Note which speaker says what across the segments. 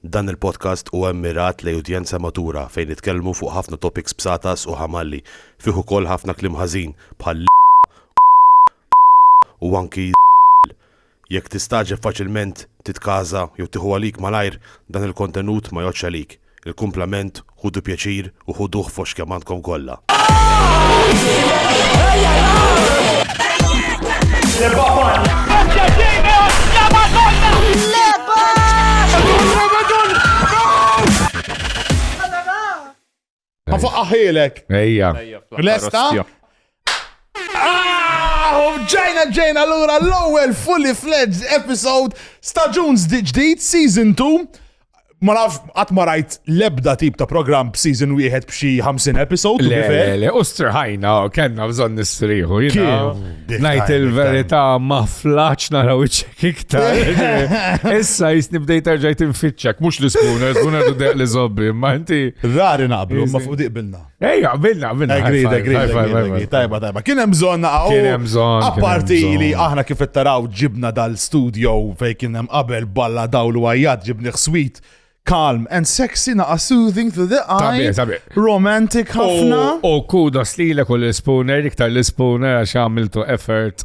Speaker 1: Dan il-podcast huwa mmirat lejn udjenza matura fejn nitkellmu fuq ħafna topics b'satas u ħamalli, fih ukoll ħafna kliem ħażin bħal l, u anki z, jekk tistagħġeb faċilment titkaża jew tieħu għalik malajr dan il-kontenut ma jgħoddx għalik, il-kumplament Ħudu pjaċir u ħuduh f'għoxx kemm għandkom kollha. Għafu aħilek. Ejja. Lesta? Ġejna ġejna l-ura l-ewwel fully fledged episode staġun ġdid season 2. Ma naf qatt ma rajt l-ebda tip ta' programm b'season wieħed b'xi 50 episode. Le, le, le, u strħajna, kellna bżonn nistrieħu. Ngħid il-verità ma flaċ naraw iċċek iktar. Issa jisni bdejt erġajt infittxek, mhux l-ispuna, l-ispuna deq li żobbi, ma inti. Rari naqblu, ma fuq diqbilna. Ej, għabilna, għabilna. Agreed, agreed. Tajba, tajba. Kien hemm bżonn naqgħu. Kien hemm bżonn. Apparti li aħna kif qed taraw ġibna dal-studio fejn kien hemm qabel balla dawl u għajjat ġibni ħswit calm and sexy naqa soothing to the eye. Romantic ħafna. U kudos li l-ekol l-spooner, iktar l-spooner għax għamiltu effort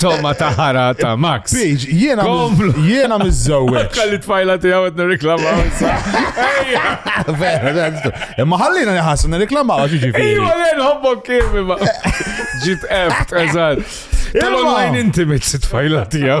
Speaker 1: Toma ta' ħara ta' Max. Page, jiena jiena mizzowet. Kalli tfajla tiegħu qed nirriklamaw. Vera, imma ħallina nħassu nirriklamaw għax ġifi. Ejwa le nħobbok kif imma. Ġit eft, eżatt. Tal-online intimate tfajla tiegħu.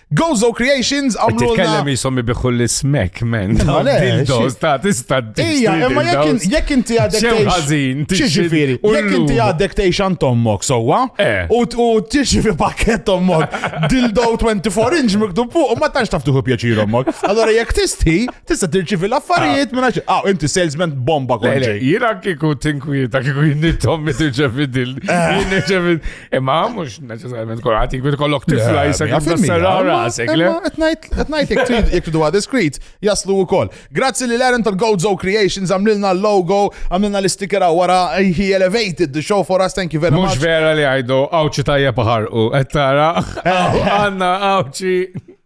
Speaker 1: Gozo Creations għamlu. Titkellem jisom ibiħu l-smek, men. Dildos ta' tista' Ija, imma jekk inti għadek. Xew ħażin, tiġifieri. Jekk inti għadek tgħix għand tommok sewwa eh. u tiġi fi pakket tommok dildo 24 inch miktub fuq u ma tantx taf tuħu pjaċir ommok. Allora jekk tisti, tista' tirċivi l-affarijiet ah. minn għax. Ah, inti salesman bomba kolli. Jiena kieku tinkwieta kieku jinnittom mi tirċevi dil. Eh. Imma mux neċessarjament kolħat jikwit kollok tifla jisek jisserra rasek. Etnajt jek tudu għad diskrit, jaslu u koll. Grazzi li l-Aaron tal-Gozo Creations għamlilna l-logo, għamlilna l-sticker għara, he elevated the show for us, thank you very much. Mux vera li għajdu, għawċi tajja paħar u, għettara, għanna għawċi.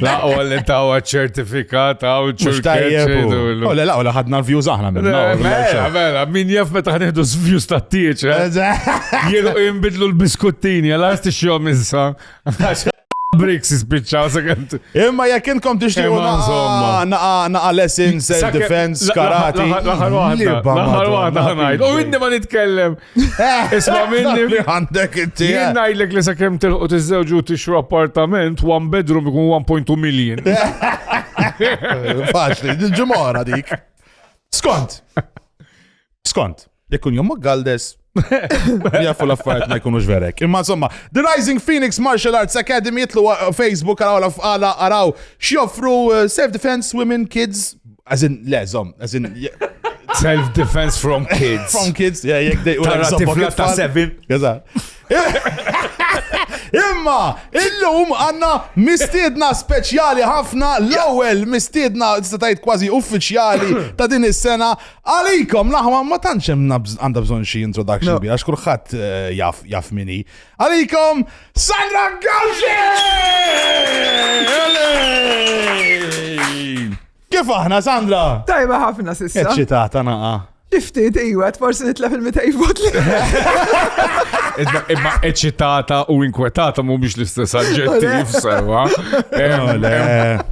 Speaker 1: La u li tawa ċertifikat għaw ċertifikat. U la u la ħadna l-views aħna minn. Mela, mela, min jaf meta ħanħdu views ta' tieċ. Eh? Jienu jimbidlu l-biskuttini, għal għasti xjom issa. Bricks ispiċċaw sekant. Imma jekk intkom tixtiequ naqa lessons, self defense, karate. Laħar waħda, laħar waħda ħanajt. U inni ma nitkellem. Isma minni li għandek inti. Jien ngħidlek li sakemm tilqu tiżżewġu tixru appartament one bedroom ikun 1.2 million. Faċli, ġimgħa dik. Skont. Skont. Jekk jom Galdes Jafu l-affarijiet ma jkunux verek. Imma insomma, The Rising Phoenix Martial Arts Academy jitlu uh, Facebook għaraw għaraw xjoffru uh, self-defense, women, kids, As in, le, zom, as in, Self-defense from kids. from kids, yeah, jek dej u Tara l-eżabba tifla kif ta' tfal. seven. Eżatt. Imma, illum għanna mistiedna speċjali ħafna l-ewwel mistiedna tista' tgħid kważi uffiċjali ta' din is-sena għalikom l-aħwa ma tantx hemm nabż- għandha bżonn xi introduction No. bi għax kulħadd eh, jaf jaf mini. Għalikom Sandra Gawxi! Kif aħna, Sandra? Tajba ħafna sissa. Eċċitata naqa. Iftit, iwa, forsi nitlef il-200 vot li. Imma eċitata u inkwetata mu biex l-istess adġettiv sewa.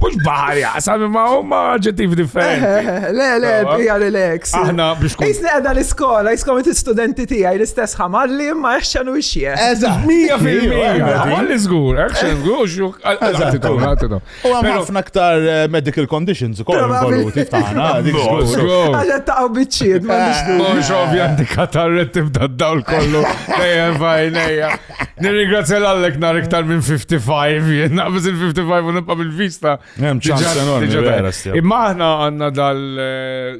Speaker 1: Mux baħar jaqsam imma huma adġettiv differenti. Le, le, bija relax. Aħna biex kun. Isni għadha l-iskola, jiskom studenti tijaj l-istess ħamalli Ma action u xie. Eżatt. Mija fil-mija. Għalli zgur, action, gux, għattitu. U għam ħafna ktar eh, medical conditions u koll involuti f'tana. Għaxa taqaw bitċiet, ma nix du. Mux ovvja di katarret tibda d-dawl kollu. Ejja, fajnejja. Nirringrazzja l-għallek nar iktar minn 55, jenna biz il-55 u nibqa bil-vista. Imma ħna għanna dal eh,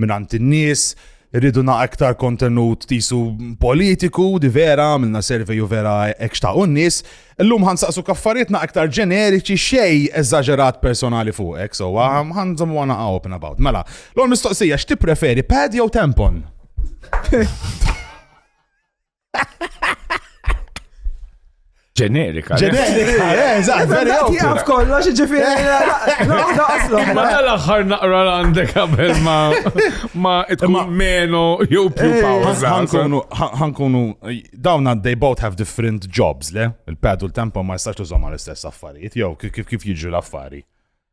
Speaker 1: mingħand in-nies, irridu naq iktar kontenut tisu politiku, di vera, għamilna survey u vera hekk xtaqu n-nies. Illum ħan saqsu kaffariet naq iktar ġeneriċi xej eżaġerat personali fuqek, so ħan żommu għana open about. Mela, l-għol mistoqsija, x'ti preferi, pad jew tampon? Ġenerika. Ġenerika, eh, eżatt, veri għaw. Għaf kollox, ġifiri, naħda għaslu. Ma l-axar naqra għandek għabel ma ma tkun meno jew più eh, pawza. Ħankunu, dawn they both have different jobs, le? Il-padu l-tempo ma jistax tużom għal-istess affarijiet, jew kif jiġu l-affari.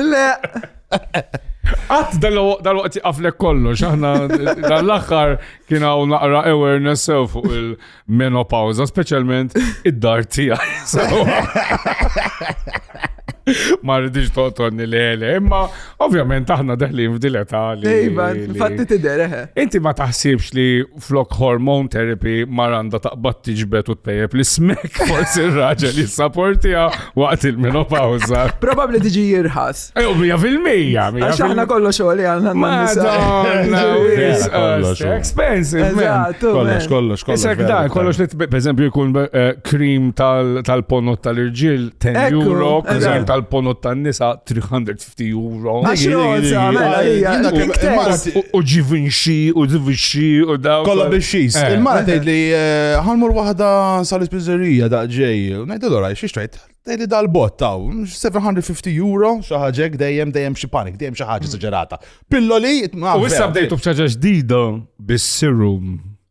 Speaker 1: Le! Għat dal-waqt jaqaflek kollox, aħna dal-axħar kien hawn naqra awareness sew fuq il-menopawza, speċjalment id-dar tiegħi. Ma rridix toqtonni li għele, imma ovvjament aħna deħlin f'dileta li. Ejba, fatti tidher, eh. Inti ma taħsibx li flok hormone therapy mar għandha taqbad tiġbed u tpejjeb li smek forsi r-raġel jissaportija waqt il-menopawza. Probabbli tiġi jirħas. Ew mija fil-mija. Għax aħna kollox xogħol għandna Madonna, expensive. Kollox, kollox, kollox. Isek da, kollox li per eżempju jkun krim eh, tal-ponot tal-irġiel 10 euro, krim tal-ponot tan-nisa 350. 50 euro. Għax roza, mela, hija. U ġivinxi, u ġivinxi, u daw. Kolla biex eh. Il-mara tgħid li eh, ħanmur waħda sal-ispizzerija da ġej. Ngħid allura xiex tgħid? Tgħid li dal-bot taw 750 euro xi ħaġek dejjem dejjem xi panik, dejjem xi ħaġa mm. saġerata. Pilloli. U issa bdejtu b'ċaġa ġdida bis-serum.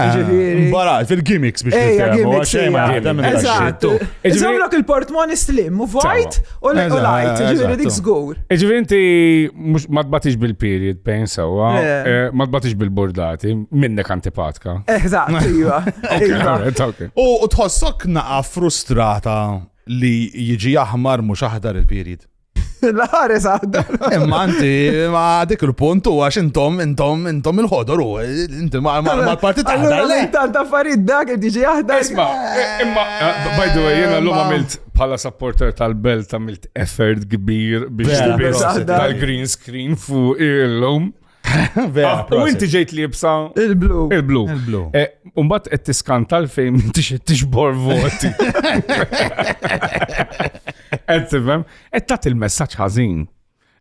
Speaker 1: Ah, Ġifieri- Barat, fil-gimmicks biex Ejja, nifhem, u gimmicks, għaxej ma ejja. jaħdem il-daxxi. Eżatt. tu. Ġifieri- Iżomlok il-portmoni slim, u vojt u l- u Eżatt, lajt, ġifieri eżatt, dik tu. żgur. Iġifieri inti mhux ma tbatix bil-period pain sewwa, Le. eh, ma tbatix bil-bordati, minnek antipatka. Eżatt, iva. iva. Alright, okay. U u tħossok naqa frustrata li jiġi aħmar mhux aħdar il-period. L-ħares għadda. Imma anti, ma dik il-punt u għax intom, intom, intom il-ħodor u inti ma l-partit għadda. Intant taffariet dak li diġi għadda. Isma, imma, eh, by the way, jena l-lum għamilt bħala supporter tal-belt għamilt effort kbir biex tal-green screen fuq il-lum. U inti ġejt li jibsa. Il-blu. Il-blu. Il-blu. Eh, Umbat qed tiskanta l-fejn inti xed tixbor voti. Qed tifhem, qed tagħti il-messaġġ ħażin.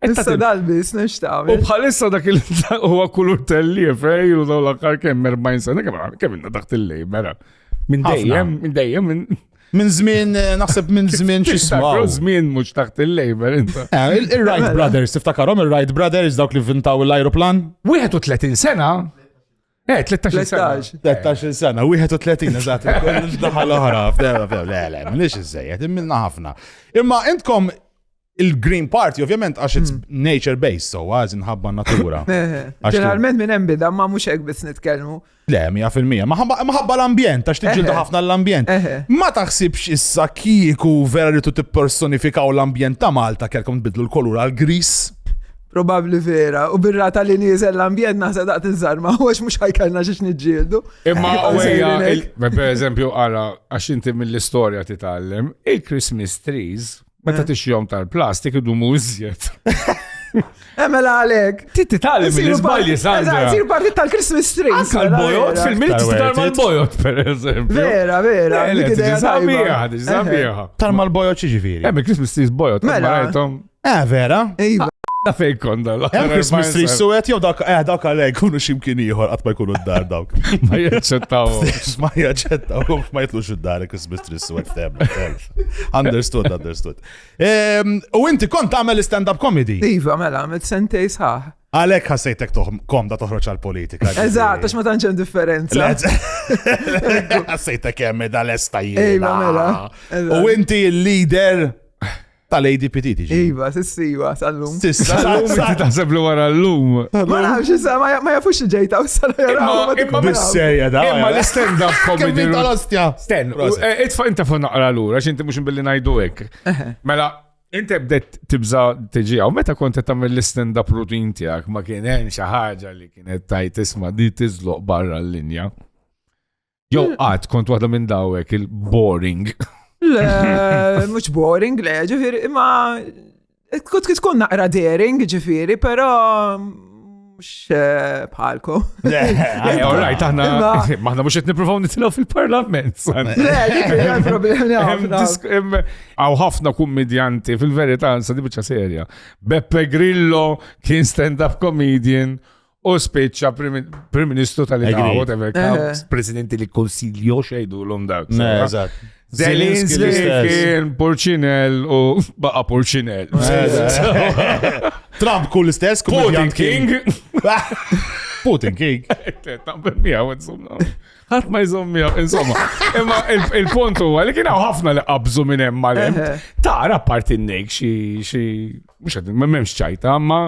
Speaker 1: Issa dal-bis nixtaq. U bħalissa dak il huwa kulur telli fej u daw l-aħħar kemm 40 sena kemm kemm inna taħt il-lejbera. Minn dejjem, minn dejjem, Minn żmien, eh, naħseb minn żmien xi smaw. Żmien mhux taħt il-labor inta. Eh, Il-Wright Mela. Brothers, tiftakarhom il-Wright Brothers dawk li vintaw l-ajruplan? 31 sena? Eh, 13 sena. 13. 13 sena, 31 eżatt, daħal oħra, f'dela, f'dela, le, le, minix iżżejjed, immilna ħafna. Imma intkom Il-Green Party, ovvjament, għax it's hmm. nature-based, so għaz nħabba natura. Ġeneralment minn hemm bidha ma mhux hekk biss nitkellmu. Le, mija fil-mija. Maħabba l-ambjent, għax tiġġildu ħafna l-ambjent. Ma taħsibx issa kieku vera li tu tippersonifikaw l-ambjent ta' Malta kelkom tbidlu l-kolur għal gris Probabli vera, u birra tal li nizel l-ambjent naħsa daqt iż-żarma, u għax mux ħajkallna xiex nġildu. Imma għajja, per eżempju, għara, għax inti mill-istoria titallem, il-Christmas trees Meta eh. tixjom tal-plastik idumu iżjed. Emela eh, għalek. Titti tali minn izbalji sandra. Sir parti tal-Christmas tree. Anka l-bojot fil-minit tal bojot per eżempju. Vera, vera. Zabiħa, zabiħa. Tarma l-bojot ċiġifiri. Emmi Christmas tree bojot. Mela. Eh, vera. Iva. Da fej konda la. Hemm Christmas tree suwet jew dak eh dak għalek kunu ximkien ieħor qatt ma jkunu d-dar dawk. Ma jaċċettawhom. Ma jaċċettawhom ma jitlux id-dar Christmas tree suwet f'tem. Understood, understood. Ehm, u inti kont għamel stand-up comedy? Iva, mela, għamil sentej saħ. Għalek ħassejtek komda toħroċ għal-politika. Eżat, għax ma tanċem differenza. Ħassejtek jemmi dal-esta jina. Iva, mela. U inti il-leader tal-ADPT tiġi. Iva, sissiwa, sal-lum. Sissa, sal-lum, inti taħseb li wara l-lum. Ma nafx, issa ma jafux ġejta, u sal-lum. Imma l-stand-up comedy. Imma l-stand-up comedy. Sten, eh, itfa inta fu naqra l-ura, xinti mux billi najdu ek. Mela, inti bdet tibza tiġi għaw, meta kont tamil l-stand up rutin tijak, ma kien hemm xi ħaġa li kienet tajt isma di tiżloq barra l-linja. Jow hmm. għad kont waħda minn dawek il-boring. Le, mux boring, le, ġifir, imma Kut tkun naqra daring, ġifiri, pero mux eh, bħalkom. Eh, all right, aħna maħna mux qed nippruvaw nitilgħu fil-parlament. Għaw ħafna kummedjanti fil-verità sa dibiċa serja. Beppe Grillo kien stand-up comedian u spiċċa Prim Ministru tal-Italja, whatever, eh. presidenti li konsiljo xejdu l-om dawk. Zelinski kien Porcinel u baqa Porcinel. Eh, Trump kull istess, Putin King. Putin King. Għat ma jżom miegħu, insomma. Imma il-punt huwa li kien ħafna li qabżu minn hemm mal-hemm. Eh. Tara parti n-nejk xi xi mhux qed m'hemmx ċajta, ma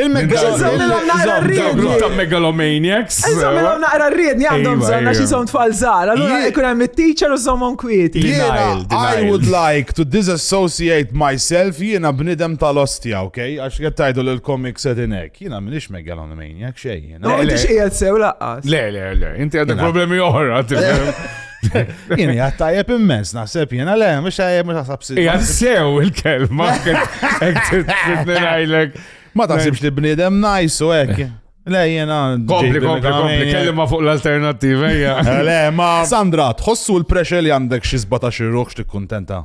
Speaker 1: Il-megalomaniacs. ta' megalomaniacs. Eżamilom naqra rriedni għandhom bżonn għax jisom tfal żgħar. Allura jkun hemm it-teacher u żommhom kwieti. I would like to disassociate myself jiena bnidem tal-ostja, ok? Għax qed tgħidu l komik sedin hekk. Jiena m'iniex megalomaniac xejn. Ma intix qiegħed sew laqqas. Le, le, le, inti għandek problemi oħra. Jien jgħat tajjeb immens, naħseb jien għale, mux tajjeb, mux għasab si. Jgħat sew il-kelma, għajlek. Ma taħsibx li bnidem najsu ek. Le, jena. Kompli, kompli, kompli, kellima fuq l-alternativa, jgħja. Le, ma. Sandra, tħossu l-pressure li għandek xizbata xirruħx tikkuntenta?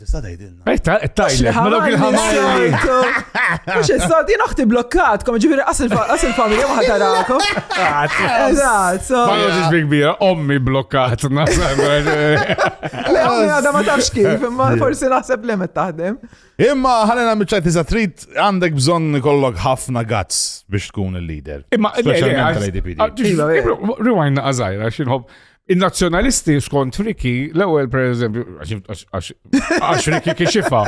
Speaker 1: Tista' tgħidilna. Tajlek, ma dawk il-ħamajli. Mhux is-sod, jien oħti blokkatkom, ġifieri qas il-familja ma ħatarakom. Eżatt, so. Ma nagħtix bi kbira, ommi blokkatna. Le ommi għadha ma tafx kif, imma forsi naħseb li met taħdem. Imma ħalena miċċajt iżda trid għandek bżonn ikollok ħafna gazz biex tkun il-leader. Imma speċjalment tal-ADPD. Iva, iva. Rewind naqażajra x'inħobb Il-nazzjonalisti skont Riki, l-ewwel pereżempju, għax Riki kixifa,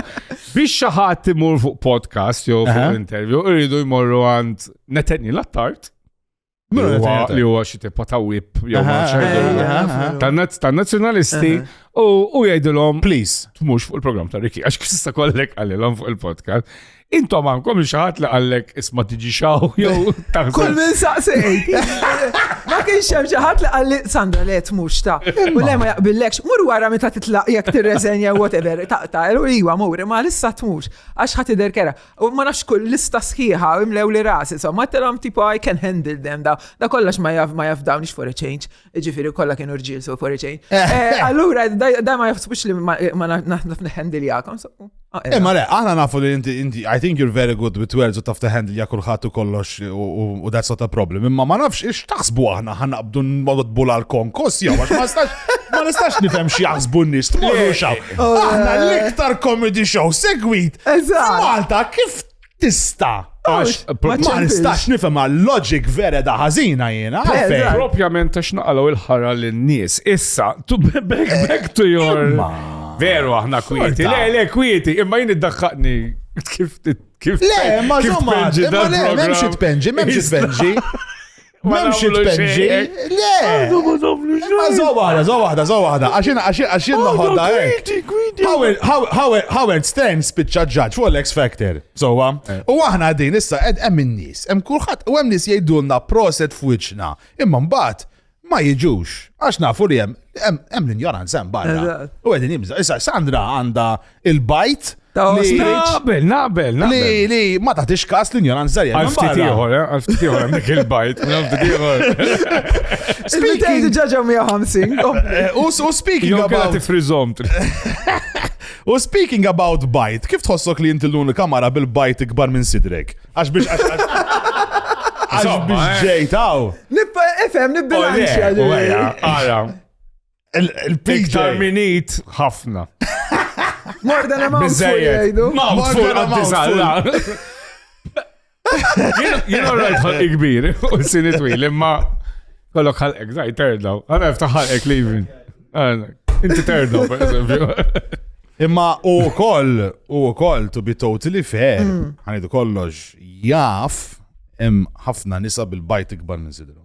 Speaker 1: biex xi ħadd imur fuq podcast jew fuq interview, irridu jmorru għand netenni l-attart. Li huwa xi tipa ta' whip jew tan-nazzjonalisti u jgħidilhom please tmux fuq il-programm ta' Riki għax kista kollek għalilhom fuq il-podcast. Intom għankom xaħat li għallek isma tiġi xaw, jow, taħseb. Kull minn saqsejt. Ma kienx hemm xi ħadd li qalli Sandra le tmux ta. U le ma jaqbillekx, mur wara meta titlaq jekk tirreżenja whatever, taqta' u iwa mur, ma lissa tmux għax ħadd idher kera. U ma nafx kull lista sħiħa imlew li rasi, so ma telhom tipo I can handle them da. Da kollox ma jaf ma jaf dawn for a change. Ġifiri kolla kienu rġil so foriċejn. Eh. Eh, allura, da ma jafsbux li ma naħnaf neħendiljakom. Eh, ma le, aħna nafu li inti, I think you're very good with words u taf teħendilja kullħat u kollox u that's not a problem. Imma ma nafx ix taħsbu aħna ħanna bdu nodbu l-konkos jew għax ma stax ma nistax nifhem xi jaħsbu n-nies tmorru xaw. Aħna l-iktar comedy show segwit. Malta kif tista' Għax, ma nistax nifhem għal loġik vera da ħażina jiena. Propjament għax naqalgħu il-ħara lin-nies. Issa, to back, back to your. Veru aħna kwieti. Le, le, kwieti, imma jien iddaħħaqni kif kif. Le, ma żomma, ma le, m'hemmx itpenġi, m'hemmx itpenġi. Memx it-penġi. Le! Ma zo waħda, zo waħda, zo waħda. Għaxin, għaxin, għaxin noħodda hekk. Howard, Howard, Howard Stern spiċċa ġaġ fuq l-X Factor. Sowa. Eh. U aħna din issa qed hemm in-nies, hemm kulħadd u hemm nies jgħidulna proset f'wiċċna. Imma mbagħad ma jiġux. Għax nafu li hemm hemm l-injoranza hemm barra. U qegħdin jibża. Issa Sandra għandha il-bajt. Naqbel, naqbel, naqbel. Li, li, ma taħtix kas l-injoranza li għal ftit ieħor, eh, għal ftit ieħor għandek il-bajt, għal ftit ieħor. Speaking ġaġa 150. Eh, u speaking about. frizomt. U speaking about bajt, kif tħossok li jinti l-unika kamara bil-bajt ikbar minn sidrek? Għax biex għax għax biex eh. ġejtaw. Nibba, efem, nibba. Għara, Il-picture. minit ħafna. More than a mouthful jgħidu. Mouthful għad-dizalla. Jien għarrajt ħalqi kbir, u s-sini twil, imma kollok ħalqek, daj, terdaw. Għana jiftaħ ħalqek li jivin. Inti terdaw, per eżempju. Imma u koll, u koll, to be totally fair, mm. għanidu kollox, jaf, hemm ħafna nisa bil-bajt ikbar minn sidru.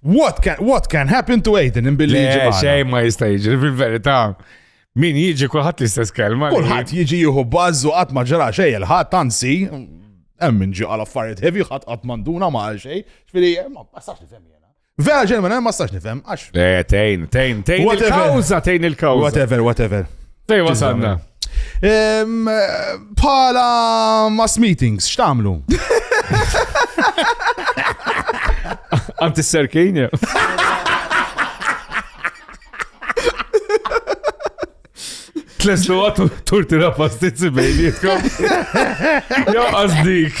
Speaker 1: What can, what can happen to Aiden in billi jiġi magħna? Xejn ma jista' jiġri fil-verità. Min jiġi kulħadd l-istess kelma. Kulħadd jiġi jieħu bażu qatt ma ġara xejn il-ħadd anzi hemm min ġi għal affarijiet heavy ħadd qatt manduna ma għal xejn. Ġifieri ma sax nifhem jiena. Vera ġenwin ma sax nifhem għax. Le, tejn, tejn, tejn il-kawża, tejn il-kawża. Whatever, whatever. Fej wasalna. Pala mass meetings, x'tamlu? Anti s-serkin, Tlestu għatu turti la pastizzi bejnietkom. Jo, għazdik.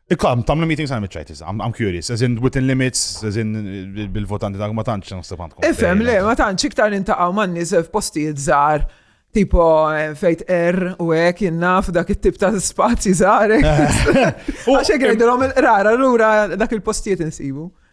Speaker 1: Ikam, tamlu meeting sa' mitċajtis, I'm curious, as in within limits, as in bil-votanti dak ma tantx nħseb għandkom. Ifhem, le, ma tantx iktar intaqgħu man nies f'postijiet żgħar tipo eh, fejt er u ek jinnaf dak it-tip ta' spazji zare. Għaxek għedilom il-rara l-ura dak il-postijiet insibu.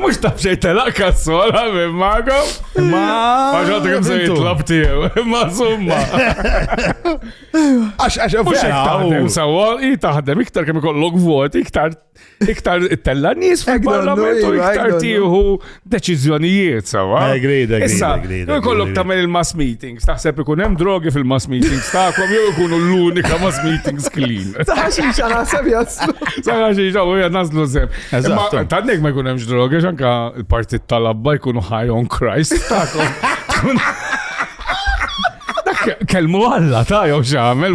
Speaker 1: Mux taf xej telaq kassola minn mago. Ma. Għaxħat kem se jitlab tiegħu. Ma zumma. Għax għax mux taħdem sawa, i taħdem iktar kem ikollok vot, iktar iktar tella nies fil-parlament u iktar tieħu deċiżjonijiet sawa. Agreed, agreed. Issa, ikollok tagħmel il-mass meeting. Taħseb ikun hemm drogi fil-mass meetings tagħkom jew ikunu l-unika mass meetings clean. Saħaxi xa naħseb jaslu. Saħaxi xa u jaslu sem. Imma tannek ma jkun hemmx drogi xanka l-partit tal-abba jkunu high on Christ tagħkom. Kelmu għalla ta' jow xamel,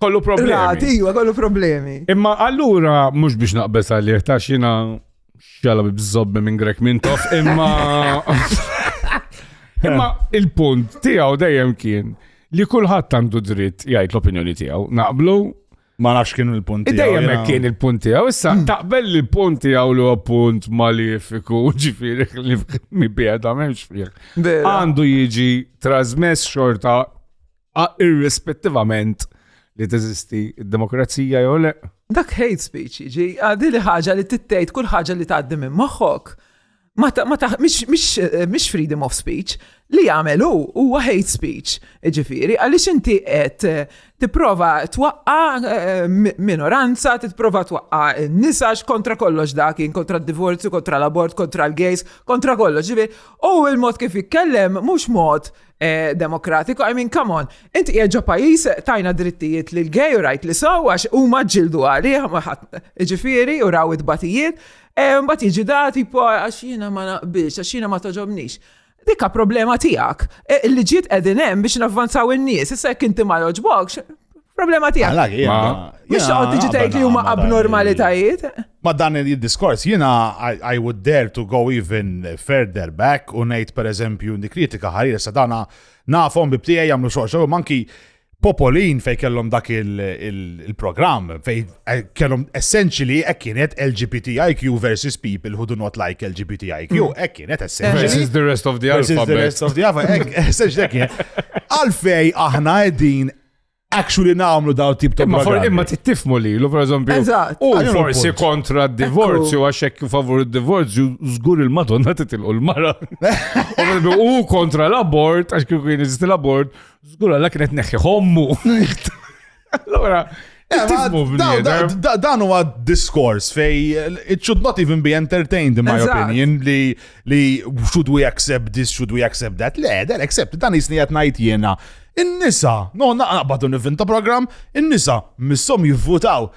Speaker 1: Kollu problemi. Rati, iwa, kollu problemi. Imma allura, mux biex naqbes għalih, ta' xina xjala bibżobbi minn Grek Mintoff, imma. imma il-punt tijaw dejjem kien li kullħat għandu dritt jgħid l-opinjoni tijaw. Naqblu? Ma nafx kien il-punt tijaw. Dejjem hekk kien il-punt tijaw. Issa, hmm. taqbel li l-punt tijaw li huwa punt malifiku, ġifiri li mi bieda memx fih. Għandu jiġi trasmess xorta Irrispettivament li teżisti d-demokrazija jew le. Dak hate speech, ġi, għadi li ħaġa li tittejt kull ħaġa li tgħaddi minn moħħok. Ma ta' ma ta' mish freedom of speech li jagħmel hu huwa hate speech. Ġifieri, għaliex inti qed eh, tipprova twaqqa eh, minoranza, tipprova twaqqa nisa kontra kollox dak, kontra d-divorzju, kontra l-abort, kontra l-gays, kontra kollox. Ġifieri, u l-mod kif jitkellem mhux mod Eh, demokratiku, I mean, come on, inti jieġa pajis tajna drittijiet li l-gej u rajt li saw, għax u maġġildu għali, ġifiri, u raw id-batijiet, eh, mbat jieġi dati po għax jina ma naqbix, għax jina ma toġobnix. Dika problema tijak, eh, li ġiet edinem biex navvanzaw il-nies, issa jek inti ma joġbokx, problema tijak. Mux xoqt tiġi tajt li huma abnormalitajiet. Ma' dan il-diskors jiena I would dare to go even further back u ngħid pereżempju dik kritika ħarir sa dana nafhom bib tiegħi jagħmlu xogħol xogħol manki Popolin fej kellhom dak il-programm fej eh, kellhom essentially hekk kienet LGBTIQ versus people who do not like LGBTIQ hmm. hekk kienet essentially versus the rest of the alphabet. Versus the rest of the alphabet. Essentially hekk kienet. Għalfej aħna qegħdin actually namlu daw tip ta' Imma for imma tittifmu li, l per eżempju. Eżatt. U forsi kontra d-divorzju, għax hekk favur d-divorzju, żgur il-Madonna titilqu l-mara. U kontra l-abort, għax kieku kien iżist l-abort, żgur għalla kienet neħħi hommu. Allora, Dan huwa diskors fej it should not even be entertained in my opinion li li should we accept this, should we accept that, le, dan accept, dan jisni għat najt jena. In-nisa, no, naqbadu nivin ta' program, in-nisa, missom jivvutaw.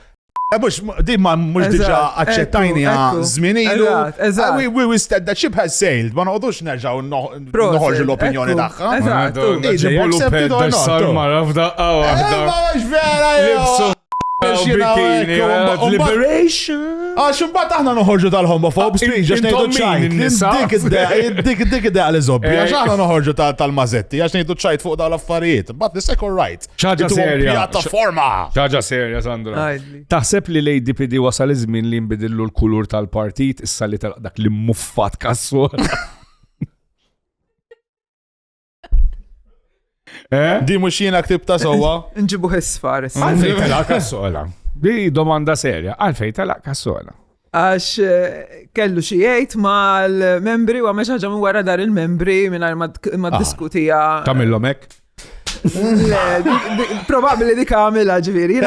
Speaker 1: Mux, eh, di ma mux diġa accettajni għan zminilu. Ah, we, we, we said that ship has sailed, ma noqdux nerġaw noħorġu l-opinjoni daħħa. Eżatt, eżatt. Dessar marra f'daqqa wahda. Libsu bikini, liberation. Għax imbagħad aħna noħorġu tal-homophob speech għax ngħidu ċajt. Dik dik id li zobbi għax eh, aħna noħorġu tal-mażetti għax ngħidu ċajt fuq dawn l-affarijiet. But the second right. Ċaġa serja. Pjattaforma. Ċaġa serja Sandra. Taħseb li lejdi pidi wasal iż-żmien li nbidillu l-kulur tal-partit issa li dak li muffat kassu. Eh? Di mux jina ktib ta' sowa. Nġibu hissfar. Għalfej tala kassola. Di domanda serja. Għalfej tala kassola. Għax eh, kellu xijajt ma l-membri u għamil xaġa minn wara dar il-membri minn ma ah. diskutija. Kamillom ek? Probabli di kamila ġviri.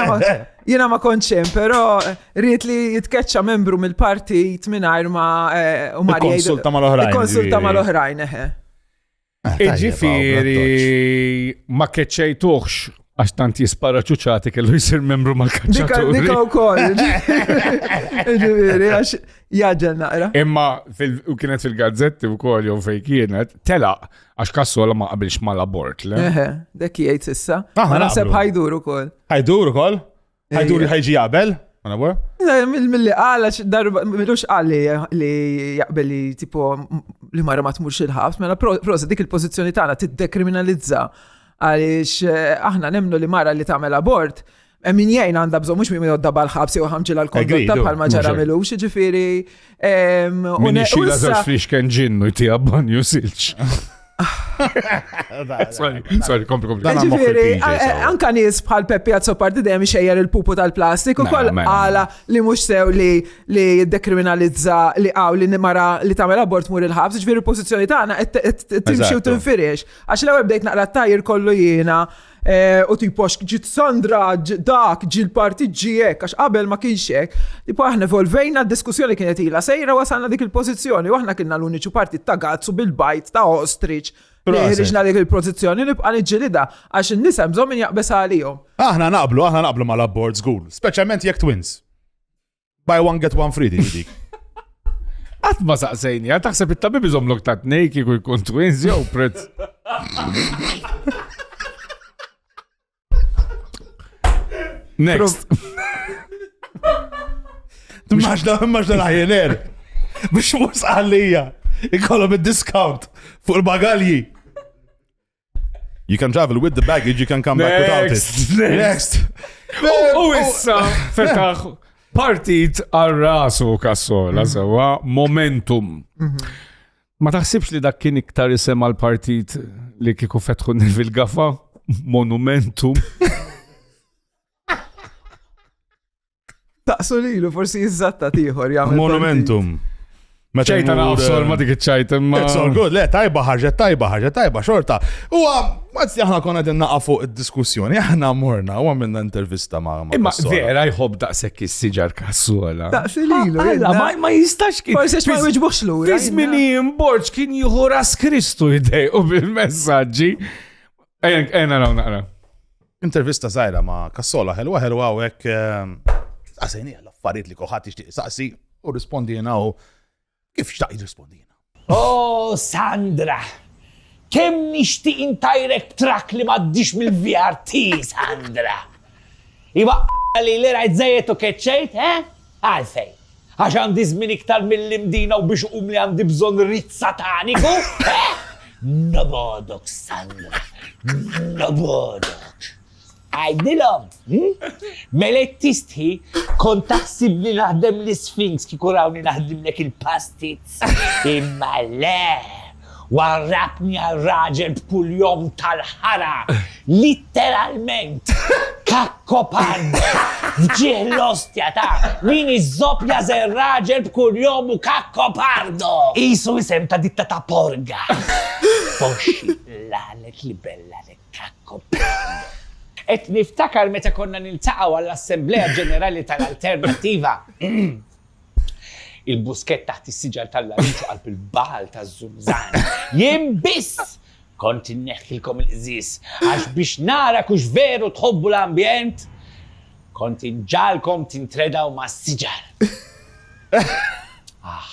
Speaker 1: Jina ma konċem, pero eh, rrit li jitkeċċa membru mill-partit minn ma u marjaj. Konsulta mal-oħrajn. Konsulta mal-oħrajn, eħe. Ah, Iġifiri, ma keċċejtuħx għax tant jispara ċuċati kellu jisir membru ma kaċċatu. Dika u koll. Iġifiri, għax jaġġel naqra. Imma u kienet fil-gazzetti u koll jow fej kienet, tela għax kassola ma qabilx ma labort. Eħe, dekki jgħid sissa. Ma naseb ħajdur u koll. Ħajdur u koll? Ħajdu li ħajġi jaqbel? Mill-li għala darba, mill-ux għalli li jaqbel li tipo li marra ma tmurx il-ħabs, mela prosa dik il-pozizjoni tagħna tiddekriminalizza għaliex eh, aħna nemnu li mara li tagħmel abort Min jgħin għanda bżon, mux min jodda bħal-ħabs jew ħamġi l-kondotta bħal maġara milux, ġifiri. Min xila zax flix kien ġinnu jtija banju silċ. Sorry, sorry, kompli, kompli. Ġifiri, anka nis bħal Peppi Azzopardi dejjem xejjer il-pupu tal-plastik u koll għala li mux sew li li dekriminalizza li għaw li nimara li tamel abort mur il-ħabs, ġifiri pozizjoni tagħna timxi u tinfiriex. Għax l-ewwel bdejt naqra tajr kollu jiena Eh, u tipo ġit Sandra dak ġil parti ġiek, għax qabel ma kienx hekk. Tipo aħna evolvejna d-diskussjoni kienet ila sejra wasalna dik il-pożizzjoni u aħna kienna l-uniċu parti ta' gazzu bil-bajt ta' ostrich. Ħriġna dik il-pożizzjoni nibqa' niġġilida għax in-nisa bżonn min jaqbes għalihom. Aħna naqblu, aħna naqblu mal-abbord żgur, speċjalment jekk twins. Buy one get one free din dik. Għat ma saqsejni, għat taħseb it-tabib iżomlok ta' t-nej kiku jkun twins jew prezz. Next. Maġda, maġda laħjener. Biex mus għallija. Ikollom il-discount fuq il-bagalji. You can travel with the baggage, you can come back without it. Next! U issa, fetaħ, partit għal rasu kassola, mm. sewa, momentum. Mhm. Ma taħsibx li dak kien iktar isem għal partit li kiku fetħu nil gafa Monumentum. Taqsu lilu, forsi jizzatta tiħor jgħamil. Monumentum. Meta ċajta naqsol ma dik ċajta imma. It's all good, le, tajba ħarġet, tajba ħarġet, tajba xorta. U għazzi aħna konna din naqa fuq id-diskussjoni, aħna morna u għamilna intervista ma' ma' Imma vera jħob daqsek is-siġar kassola. Daqsi li l ma jistax kif. Forse ma jwiġbux l Fizmini imborġ kien jieħu ras Kristu jdej u bil-messagġi. Ejna naqra. Intervista żgħira ma' Kassola ħelwa ħelwa u hekk saqsejni għal affarijiet li koħat jixtieq saqsi u rispondi jiena u kif xtaq jirrispondi jiena. Oh Sandra, kemm nixtieq intajrek trak li m'għaddix mill-VRT, Sandra. Iba li li rajt zajet u keċċejt, eh? Għalfejn? Għax għandi żmien iktar mill-imdina u biex iqumli għandi bżonn rit sataniku? Eh? Nobodok, Sandra, nobodok. Għajdilom, hm? mela t-tistħi kont taħsibni naħdem l-Sphinx kikuraw li naħdimlek il-pastits. Imma le, Warrabtni għal raġel b'kull jom tal-ħara, litteralment, kakkopard f'ġieħ l-ostja ta' min iżżoppja żer raġel b'kull jom u kakkopardo! Qisu isem ta' ditta ta' porga. Foxxi, l-għanet libella li kakkopardo. Qed niftakar meta konna niltaqgħu għall-Assemblea Ġenerali tal-Alternattiva. Il-buskett taħt is-siġar tal-larinġ u qalb il-bagħal taż-żumżan. Jien biss kont inneħħilkom il-qżież għax biex narak hux veru tħobbu l-ambjent, kont inġagħalkom tintredaw mas-siġar. Aħ.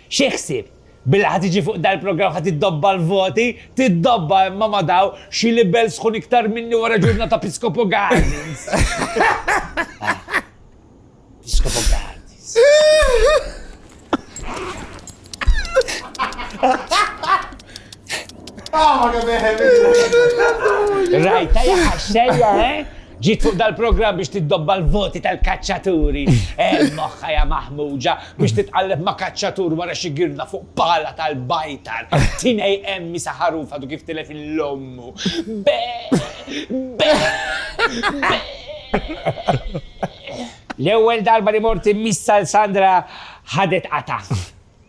Speaker 1: Xi ħsieb? Billi ħa tiġi fuq dal-programm ħa tiddobba l-voti? Tiddobba imma ma daw xi libell sħun iktar minni wara ġurnata Piscopo Gardens! Piscopo Gardens. Rajta jaħxejja, eh? Ġiet fuq dal-programm biex tiddobba l-voti tal-kaċċaturi. Għen moħħha ja Maħmuġa biex titqalleb ma' kaċċatur wara xi girda fuq pala tal-bajtar. Tinej hemm isa ħarufa du kif tilef il ommu. Be! Be! Be! L-ewwel darba li mort immissa l Sandra ħadet qata.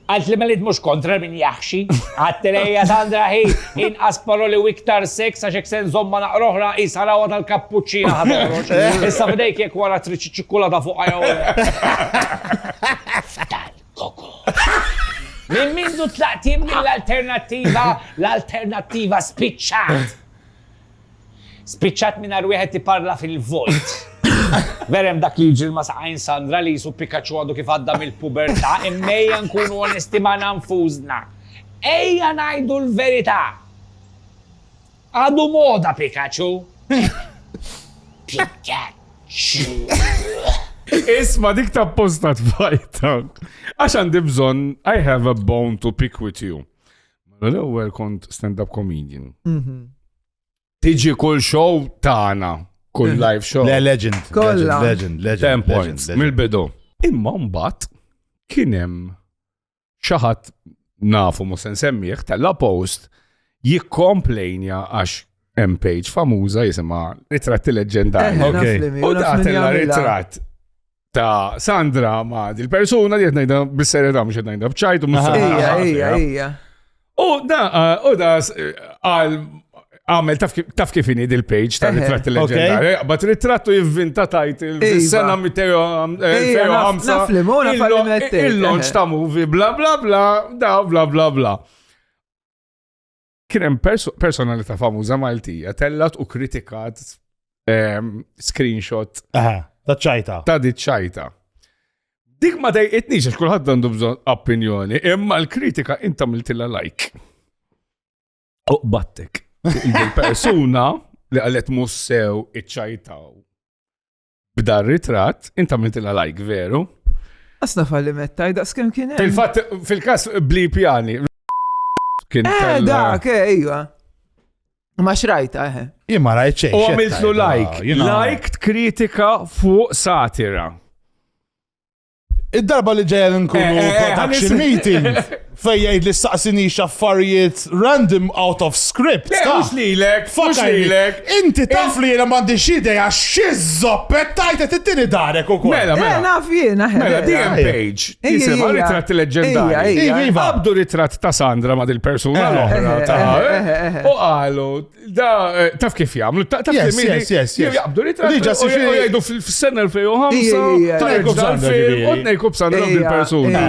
Speaker 1: Għalt li meliet mhux kontra min jaħxi. Għadtilha hija Sandra hi inqas paroli u iktar seks għax hekk se nżommha naqra oħra qisha rawha tal-kappuċċina ħa toħroġ. Issa f'idejk jekk wara tridx iċ-ċikkulata fuqha jew Minn mindu tlaqt jien mill-alternattiva, l-alternattiva spiċċat. Spiċċat mingħajr wieħed iparla fil-vojt. Vera hemm dak li jiġri ma' saqajn Sandra li qisu Pikachu għadu kif għadda mill-pubertà, imma ejja nkunu onesti magħna nfusna. Ejja ngħidu l-verità. Għadu moda Pikachu. Pikachu. Isma dik ta' posta tfajta. Għax għandi bżon, I have a bone to pick with you. Mela l-ewwel kont stand-up comedian. Mhm. Tiġi kull show tagħna, kull mhm. live show. Le legend. Kolla. Legend, legend. Ten points, mill-bidu. Imma mbagħad kien hemm xi ħadd nafu mhux se nsemmih tella post jikkomplejnja għax hemm page famuża jisimha Ritratti Leġġendarji. Eh, u tagħtilha ritratt ta' Sandra ma' dil-persuna li jtnajda bis-serjetà mhux jtnajda bċajt u mhux serjetà. U da, eh, u da eh, għal għamel taf kif ini dil-page ta' ritratti leġendari, eh, bat ritrattu jivvinta tajt il-sena 205 il-launch ta' movie bla bla bla, da bla bla bla. Kien hemm personalità famuża Maltija tellat u kritikat ehm, screenshot. Aha, ta' ċajta. Ta' di ċajta. Dik ma dejqitnix għax kulħadd għandu bżonn opinjoni, imma l-kritika inta miltilla like. Uqbattek. Il-persuna li għalet mussew iċċajtaw. B'dar ritratt, int għamiltilha like veru. Asna falli mettaj, da' skem kien. Fil-fatt, fil-kas bli pjani. Kien. Eh, da, ke, ejwa. Ma xrajta, eħe. Eh. Imma rajt U għamiltlu like. Like kritika fuq satira. Id-darba li ġejja nkunu eh, eh, eh, production meeting fej jgħid li saqsini xaffarijiet random out of script. Mux lilek, mux lilek. Inti taf li jena mandi xide għax xizzoppet tajt qed ittini darek ukoll. Mela, mela. Naf jiena. Mela, DM page. Jisimha ritratt leġendari. Iva. Abdu ritratt ta' Sandra ma' dil-persuna l-oħra. U qalu, Da, eh, taf kif jgħamlu, taf kif jgħamlu. Yes, yes, yes. Jgħabdu li taf. Diġa si xie jgħidu fil-sena 2005. Tajku b'sanda ġibi. Odnejku b'sanda l persuna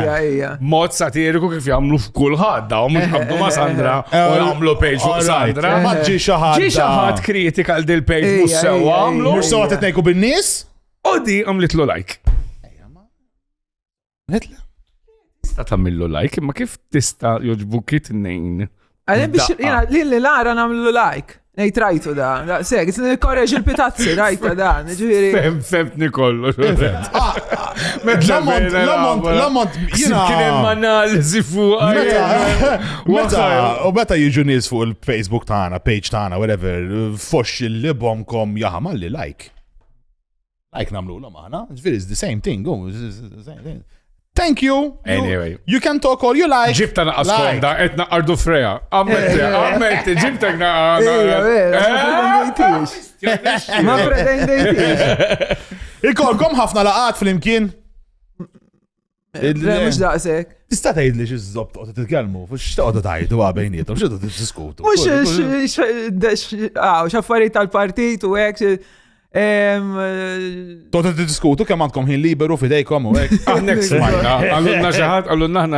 Speaker 1: Mod satiriku kif jgħamlu f'kull ħadda, u mux għabdu ma Sandra, u eh, jgħamlu pejġ fuq Sandra. Eh, Maġġi xaħat. Ġi xaħat kritika għal dil pejġ mux sewa għamlu. Mux sewa t-nejku bin-nis? Odi għamlitlu like. Għetla. Tista tamillu like, imma kif tista joġbu kit nejn? Għalli biex jina li li lara namlu like. Nej trajtu da, da, seg, korreġ il-pitazzi, rajta da, ġviri. Fem, femtni kollu. L-ammont, l-ammont, l-ammont, jina. Kienem analizi fuq. Meta, u meta jiġu nis fuq il-Facebook tana, page tana, whatever, fox il-libom kom jahamalli like. Like namlu l-om aħna, ġviri, it's the same thing, oh, Thank you. Anyway. You can talk all you like. Ġibta naqas konda, et naqardu freja. Ammetti, eh. ammetti, ġibta naqas. Ma pretendejtix. Ikolkom ħafna laqat fl-imkien. Mux daqsek. Tista tgħidli xi żob toqgħod titkellmu, x'toqgħod tgħidu għal bejnietom, x'toqgħod tiddiskutu. Mhux x'affarijiet tal-partit u hekk. Toqgħod tiddiskutu kemm għandkom ħin liberu fidejkom u hekk. Aħnek smajna, għallunna xi ħadd, għallunna aħna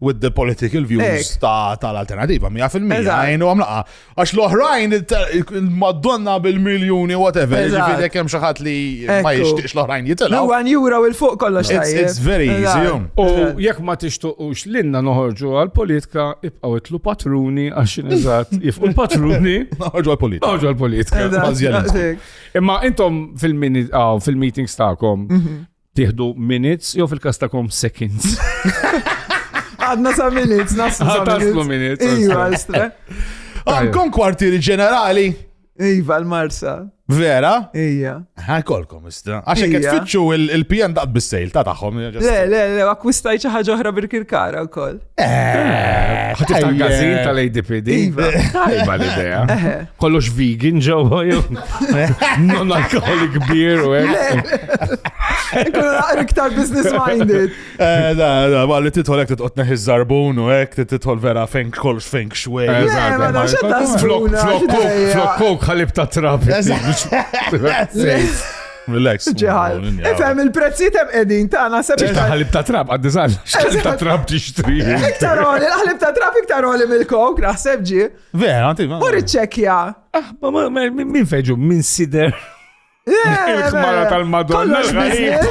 Speaker 1: with the political views ta' tal-alternativa, 100% għajnu għamlaqa. Għax l-oħrajn, madonna bil-miljoni, whatever, ġifiri kem xaħat li ma jishtiqx l-oħrajn jitela. U għan jura u il-fuq kollox tajjeb. It's very easy. Um. U jek ma tixtuqux l-inna noħorġu għal-politika, ibqaw itlu patruni għax nizat, jifqu patruni. Noħorġu għal-politika. Noħorġu għal-politika. Imma intom fil-meetings ta'kom, mhm. Tieħdu minutes jew fil-każ tagħkom seconds. Għadna sa minutes, naslu sa taslu minutes. Iva, estra. Għandkom kwartieri ġenerali. Iva, l-Marsa. Vera? Ija. Għakolkom, istra. Għaxek qed fitxu il-PN daqt bis-sejl ta' tagħhom. Le, le, le, akkwistaj xi ħaġa oħra bil-kirkara wkoll. Eh, Ħatif ta' gazin tal-ADPD. Iva. Tajba l-idea. Eh. Kollox vegan ġewwa jew non alkoholik beer u hekk. Ikun naqra iktar business minded. Eh, da, da, ma li titħol hekk titqod neħi żarbun u hekk titħol vera feng kollox feng xwej. Flok kok ħalib ta' trabi. Relax. Ġeħal. Ifem il-prezzijiet hemm qegħdin tagħna se biex. Ħalib ta' trab għad diżgħal. Ħalib ta' trab tixtri. Iktar għoli, l-ħalib ta' trab iktar għoli mill-kok, naħseb ġi. Vera, għanti. U riċċekja. Ah, ma min feġu, min sider. Il-kmara tal-Madonna.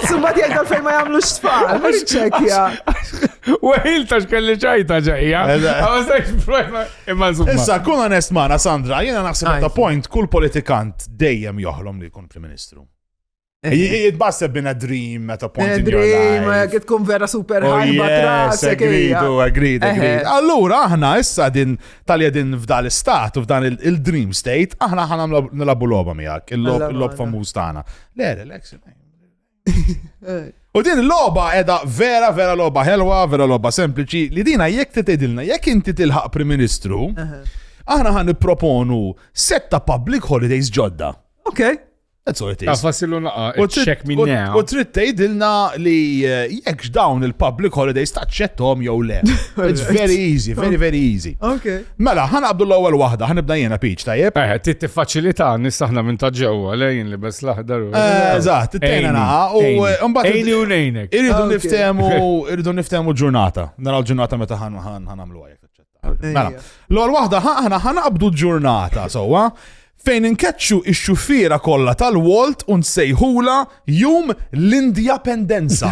Speaker 1: Summa di għal fejn ma jamlu xfar. Riċċekja. U għil ta' xkelli ċajta ġajja. Issa, kun onest maħna, Sandra, jena naħseb ta' point, kull politikant dejjem joħlom li kun Prim Ministru. Jitbasseb bin a dream at a point in your life. Dream, kif tkun vera super oh, ħalba trasek. Agridu, agridu, agridu. Allura, aħna issa din talja din f'dal istat u f'dan il-dream state, aħna ħana nilabu loba miegħek, il-lob famuż tagħna. Le, relax, U din l-loba edha vera, vera loba helwa, vera loba sempliċi, li dina jekk titedilna, jekk inti tilħaq Prim Ministru, aħna ħan proponu setta public holidays ġodda. Ok. That's all it is. Fassilu naqa, u check me now. U trid tgħidilna li eh, jekk dawn il-public holidays taċċettom jew le. It's very easy, very very easy. Okay. Mela, ħan qabdu l-ewwel waħda, ħan nibda jiena piċ, tajjeb? Eh, ti tiffaċilità nis aħna minn ta' ġewwa lejn li bes l-aħdar. Eh, eżatt, it-tejna naħa u eh, mbagħad. Ejni u nejnek. Irridu ah, niftehmu, irridu niftehmu ġurnata. Naraw ġurnata meta ħan ħan għamlu għajek. Mela, l-ewwel waħda ħana ħan qabdu ġurnata sewwa fejn inkeċċu ix-xufiera kollha tal-Walt u nsejħula jum l-Indjapendenza.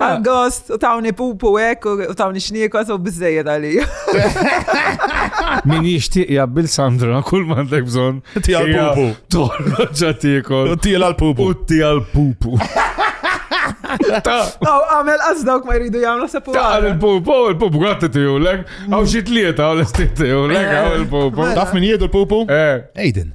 Speaker 1: Għal-gost, u tawni pupu ek, u tawni xnikos, u bizzejed għalija. Min jishtiq jabbil Sandra, kull mandek bżon. Tija l-pupu. Torro ġatikol. U tija l-pupu. U tija l-pupu. Taw, għamel għazdawk ma jridu jgħamlu sepu. Taw, il-pupu, il-pupu għatti tiju l-ek, għaw xitlieta għaw l-estit tiju l-ek, għaw il-pupu. Taf min jiedu l-pupu? Eh. Aiden.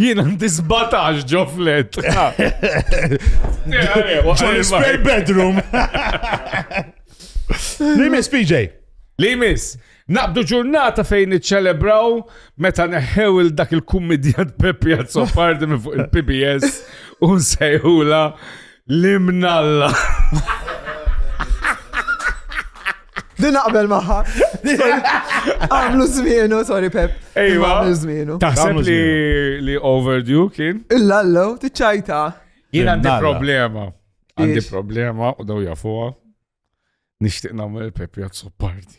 Speaker 1: Jien għandi 17 ġo flet. Spare bedroom. Li miss PJ? Li miss? Naqdu ġurnata fejn iċċelebraw meta neħew il dak il-kummedjant Peppi Azzopardi minn fuq il-PBS u nsejħula L-imnalla. Din naqbel maħħa. Għamlu zmienu, sorry Pep. Ejwa. Għamlu zmienu. Taħseb li li overdue kien? Il-lallo, tiċċajta. Jien għandi problema. Għandi problema u daw jafuha. Nixtieq nagħmel il-Pep Jazzo party.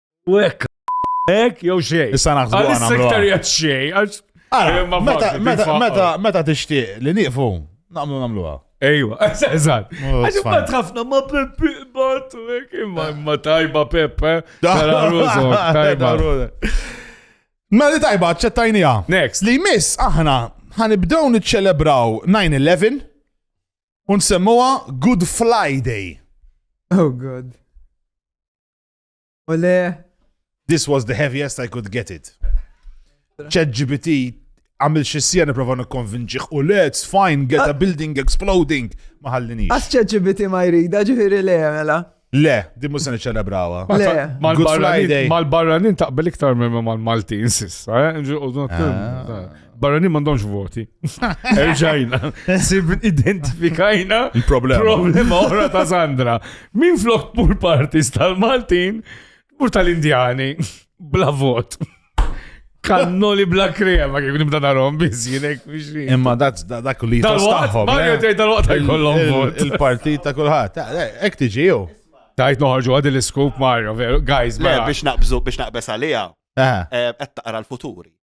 Speaker 1: U hekk hekk jew xejn. Issa naħsbu għana. Issa iktar jgħid xejn għax. Meta tixtieq li nieqfu, nagħmlu nagħmluha. Ejwa, eżat. Għax ma tħafna ma Peppi batu, imma imma tajba Peppe. Tajba. Ma li tajba, ċettajnija. Next. Li miss aħna ħanibdew niċċelebraw 9-11 un semmuha Good Friday. Oh God. Ole. This was the heaviest I could get it. ChatGPT għamil xissija niprofa nikkonvinċiħ u le, it's fine, get a ah. building exploding. Ma ħallinix. Għas ChatGPT ma jrida ġifiri le, mela. Le, din musa niċċelebrawa. Mal-barranin taqbel iktar minn mal-Maltin sissa, eh? Barranin mandomx voti. Erġajna. Sib identifikajna problema. problema oħra ta' Sandra. Min flok pool parties tal-Maltin u tal-Indjani bla vot. Kannoli bla krema kif nibda narom biz jinek biex. Imma dak dak li tastaħħom. Mario eh? tgħid tal-waqt jkollhom vot. Il-partit ta' kulħadd. Eh, eh, Ek tiġi jew. Tajt noħorġu għad il-scoop Mario, veru. Guys, biex naqbżu biex naqbes għalija. Qed taqra l-futuri.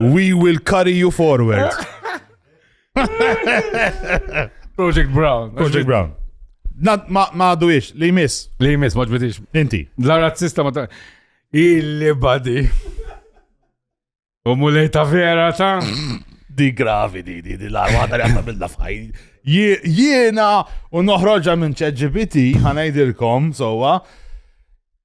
Speaker 1: We will carry you forward. Project Brown. Project Brown. Ma għadu ix, li jmiss. Li jmiss, ma ġbitix. Inti. La razzista ma ta' illi badi. U mulej ta' vera ta' di gravi di di di la għadar għadda bil-da fajn. Jiena u noħroġa minn ċeġibiti ħanajdilkom sowa. So,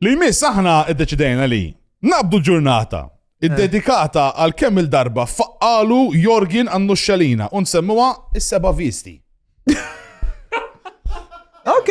Speaker 1: Li jmiss aħna iddeċidejna li naqbdu ġurnata id-dedikata eh. għal kemm il-darba faqqalu Jorgin għannu xalina un semmuwa is-seba visti. Ok.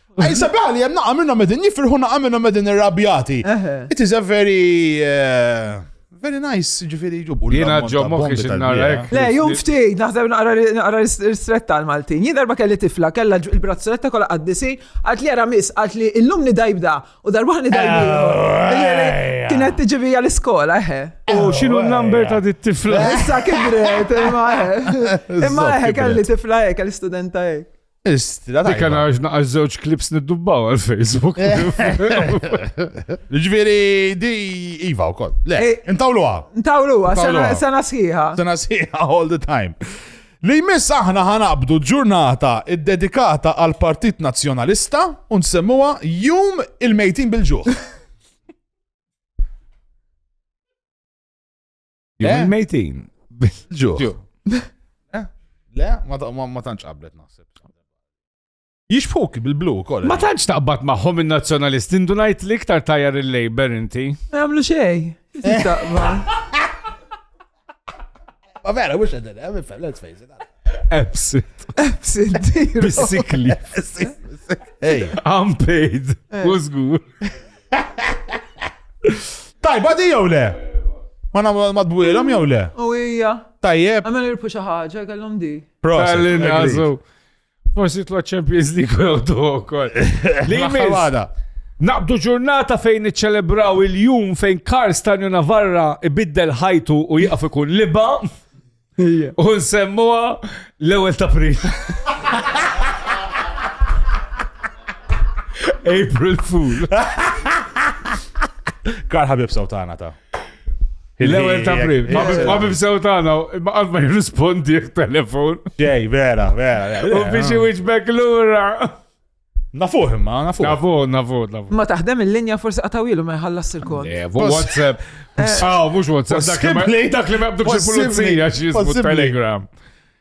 Speaker 1: Ej, sabiħa li jem naqa minnom edin jifirħu naqa minnom edin irrabjati. It is a very... Uh, very nice, ġifiri ġubu. Jena ġo moħi xinarek. Le, jum ftit, naħseb naqra l-istretta għal-Maltin. Jien darba kelli tifla, kella il-brazzoletta kolla għaddisi, għat li għara mis, għat li illum ni dajbda, u darba ni dajbda. Eh, Kienet tiġivi għal-iskola, eħe. Eh. U xinu eh. l-number ta' di tifla? Issa kibret, imma eħe. Imma eħe, kelli tifla eħe, kelli studenta eħe. Istra tajba. Dikka naġ naqax żewġ klips niddubbaw għal Facebook. Ġviri, di Iva u koll. Le, eh, intawluwa. Intawluwa, sena sħiħa. Sena sħiħa all the time. Li jmiss aħna ħanabdu ġurnata id-dedikata għal Partit Nazzjonalista u nsemmuha Jum il-Mejtin bil-Ġuħ. Jum eh? il-mejtin. Ġu. Eh? Le, ma tantx qablet naħseb. Jixbuk bil-blu kol. Ma tantx taqbad maħħom il-nazjonalist, indu najt li iktar tajjar il-Labor inti. Għamlu xej. Ma vera, mux għedin, għamil eh, fem, let's face it. Absent. Absent. Bisikli. Hey. I'm paid. Who's good? Tajba di jew le? Ma nagħmlu madwilhom jew le? U hija. Tajjeb. Għamel irpu xi ħaġa kellhom di. Proset. Forsi tla Champions League u jgħodu wkoll. Li għada. Naqbdu ġurnata fejn iċċelebraw il-jum fejn Karl Stanju Navarra ibiddel ħajtu u jaqaf ikun liba. U nsemmuha l-ewwel ta' April. April Fool. Kar ħabib sawtana ta' L-ewel ta' prim. Ma bibsew tagħna, ma qatt ma jirrispondi telefon. Ġej, vera, vera. U biex iwiġbek lura. Nafuh imma, nafuh. Nafuh, nafuh, nafuh. Ma taħdem il-linja forsi qatawilu ma jħallas il-kont. Eh, WhatsApp. Aw, mux WhatsApp. Dak li ma jabdux il-pulizija xismu Telegram.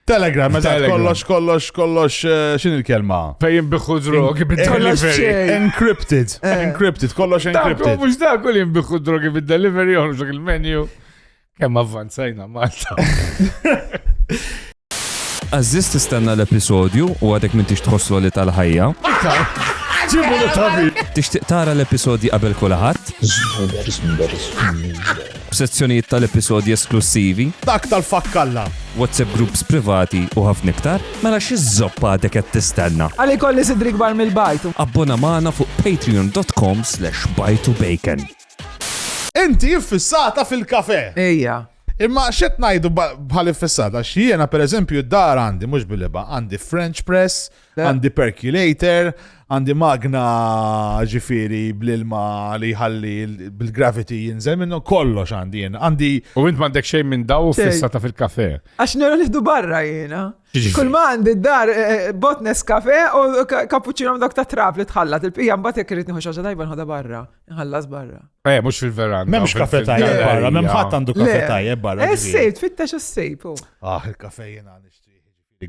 Speaker 1: Telegram, meta kollox, kollox, kollox, eh, xin il-kelma? Pejjem biħu drogi bid-delivery. Encrypted, eh. encrypted, kollox encrypted. Mux da kull jimbiħu drogi bid-delivery, joħroġ il-menu. Kemm avvanzajna Malta. Aziz tistenna l-episodju u għadek minn tix tħosslu li tal-ħajja. Ġibu li tabi. Tixtieq tara l-episodji qabel kulħadd? B'sezzjonijiet tal-episodji esklussivi? Dak tal-fakkalla. WhatsApp groups privati u ħafna iktar? Mela xi żoppa għadek qed tistenna? Għalli kolli sidri kbar mill-bajtu. Abbona magħna fuq patreon.com/bajtubacon. Inti iffissata fil-kafè! Ejja. Imma x'qed ngħidu bħal iffissata? Għax jiena pereżempju d-dar għandi, mhux bil-ilba, għandi French press, għandi percolator, għandi magna ġifieri bl-ilma li jħalli bil-gravity jinżel minnu, kollox għandi jien. Għandi. U int m'għandek xejn minn daw fissata fil-kafè. Għax nara nifdu barra jiena. Kull ma għandi d-dar eh, eh, botnes kafè u kapuċċino dak ta' trab li tħallat il-pija mbagħad jekk irid nieħu xi ħaġa tajba nħodha barra. Ħallas barra. Eh, mux fil-veranda. Memx kafe tajjeb barra, mem ħadd għandu kafe tajjeb barra. Eh, sejb, tfittex s-sejb. Oh. Ah, il-kafe jena nixtieq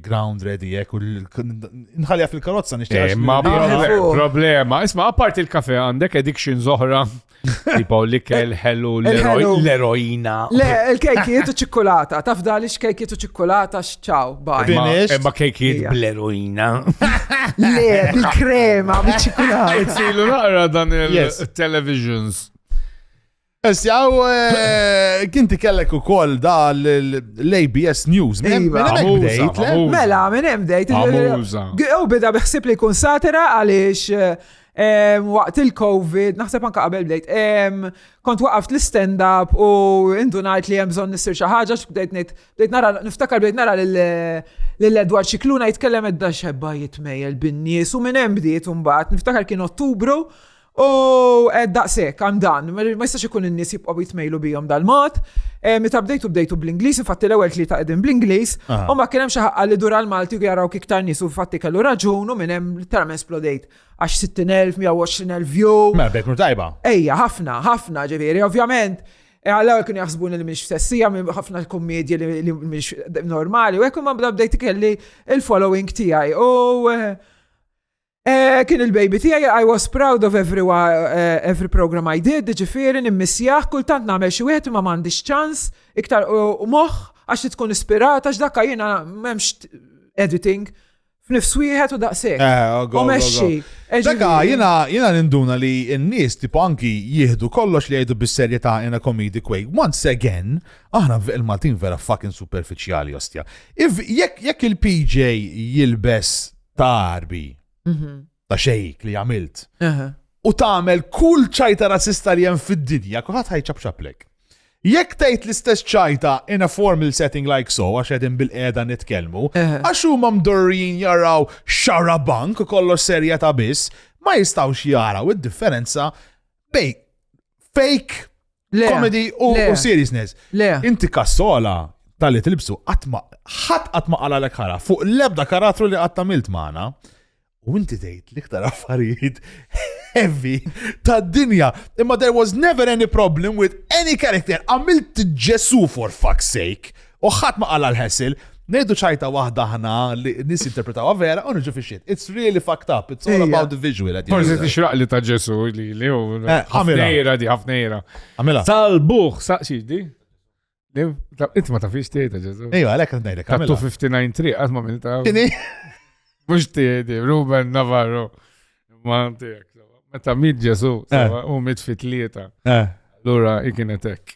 Speaker 1: ground ready jek u nħalja fil-karozza nixtieq. Eh, ma problema, isma' apart il-kafe għandek addiction zoħra. Tipo li kell ħellu l-eroina. Le, il-kejkiet u ċikkulata, taf dali x-kejkiet u ċikkulata x Ciao, bye. Finished. Imma kejkiet Ija. bl-eroina. Le, bil-krema, biċ-ċikulata. Itzilu naqra dan Yes. il-televisions. Issa, u eh, kinti kellek u koll da l-ABS News. Minn hemm- Iva. minn hemmhekk Amuża, bdejt, le? amuża. Mela, minn hemm dejt. Amuża. U bida biħsib li jkun satira għaliex em, waqt il-Covid, naħseb anka qabel bdejt, em, kont waqaft l-stand-up u indunajt li hemm bżonn nissir xi ħaġa x'bdejt ngħid Bdejt nara, niftakar bdejt nara l-Edward Xikluna jitkellem edda xebba jitmejjel bin-nies u minn hemm bdiet imbagħad. Niftakar kien Ottubru u daqshekk għam dan, ma jistax ikun in-nies jibqgħu jitmejlu bihom dal-mod. Eh, meta bdejtu bdejtu bl-Ingliż, infatti l-ewwel tlieta qegħdin bl-Ingliż, ah. u ma kien hemm xi ħaqqa li dur għall-Malti jaraw iktar nies u fatti kellu raġun u minn hemm literalment splodejt għax 60,000, 120,000 view. Ma bekk tajba. Ejja, ħafna, ħafna ġifieri, ovvjament Għalaw jkun jaħsbuni li mhix f'sessija minn ħafna kummedji li mhix normali, u hekk ma bda bdejt kelli il-following tiegħi. U eh, eh, kien il-baby tiegħi I was proud of every, eh, every program I did, ġifieri nimmissjaħ kultant nagħmel xi wieħed ma m'għandix ċans iktar u moħħ għax tkun ispirata x'dakka jiena m'hemmx editing F'nifs wieħed u daqshekk. Eh, oh, go, U go, go. mexxi. Dak Eġifieri- jiena jiena ninduna li n-nies tipo anki jieħdu kollox li jgħidu bis-serjetà in a comedic way. Once again, aħna v- il-Maltin vera fucking superfiċjali ostja. If jekk jekk il-PJ jilbes tarbi, Mhm. ta' xejk li għamilt. U tagħmel kull ċajta razzista li hemm fid-dinja, kulħadd ħajċabċaplek. Jekk tgħid l-istess ċajta in a formal setting like so, għax qegħdin bil-qiegħda nitkellmu, għax huma mdorrijin jaraw xara bank kollox serja ta' biss, ma jistgħux jaraw id-differenza bej fake Le. Comedy u Le. u seriousness. Le. Inti kassola tal-li tilbsu għatma, ħat għatma għala l ħara fuq l-ebda karattru li għatta milt maħna. U inti tgħid l-iktar affarijiet heavy tad dinja. Imma there was never any problem with any character. Għamilt Ġesu for fuck's sake. U ħadd ma qala l-ħessil, ngħidu ċajta waħda ħna li nies jinterpretawha vera u niġu fix-xiet. It's really fucked up, it's all about the visual. Forsi tixraq li ta' Ġesu li li hu. Eh, ħafnejra di, ħafnejra. Għamela. Tal-buħ, saqsi di. Inti ma tafix tiegħi ta' Ġesu. Ejja, għalhekk qed ngħidlek. Ta' 259 triq qatt ma minn ta' Mhux tiegħi, Ruben Navarro. Ma tiegħek. Meta mit Ġesu, eh. u mit fit-tlieta. Eh. Lura ikienet hekk.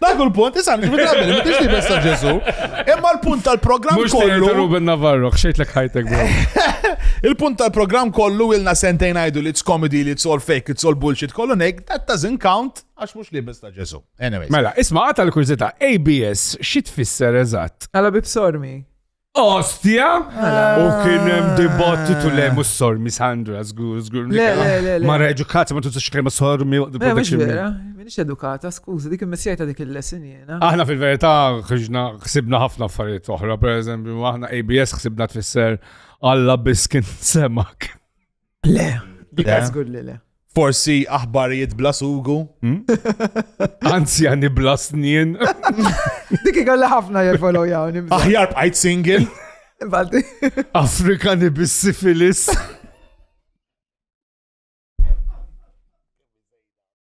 Speaker 1: Dak u l-punt, isan, ġibri drabi, ma tixti bessa Ġesu. Imma l-punt tal-program Mux kollu. tejdu Ruben Navarro, xejt l ħajtek bro. Il-punt tal-program kollu ilna sentejn għajdu li it's comedy, li it's all fake, it's all bullshit, kollu nejk, that doesn't count, għax mux li bessa Ġesu. Anyway. Mela, isma għata l-kurzita, ABS, xit fisser eżat? Għala bibsormi. Ostja! Ah. U kien hemm dibattitu le mhux sormi Sandra żgur żgur. Le le le. Mara edukata ma tużax kelma sormi waqt il-production. Vera, minix edukata, skużi, dik il-messija ta' dik il-lesson jiena. Aħna fil-verità ħriġna ħsibna ħafna affarijiet oħra, pereżempju aħna ABS ħsibna tfisser Alla biskin semak. Le. Dika żgur li le. Forsi aħbarijiet bla sugu. Hmm? Anzjani bla snien. Dik ikolla ħafna jifolo jawni. Aħjar bqajt single. Afrikani bis-sifilis.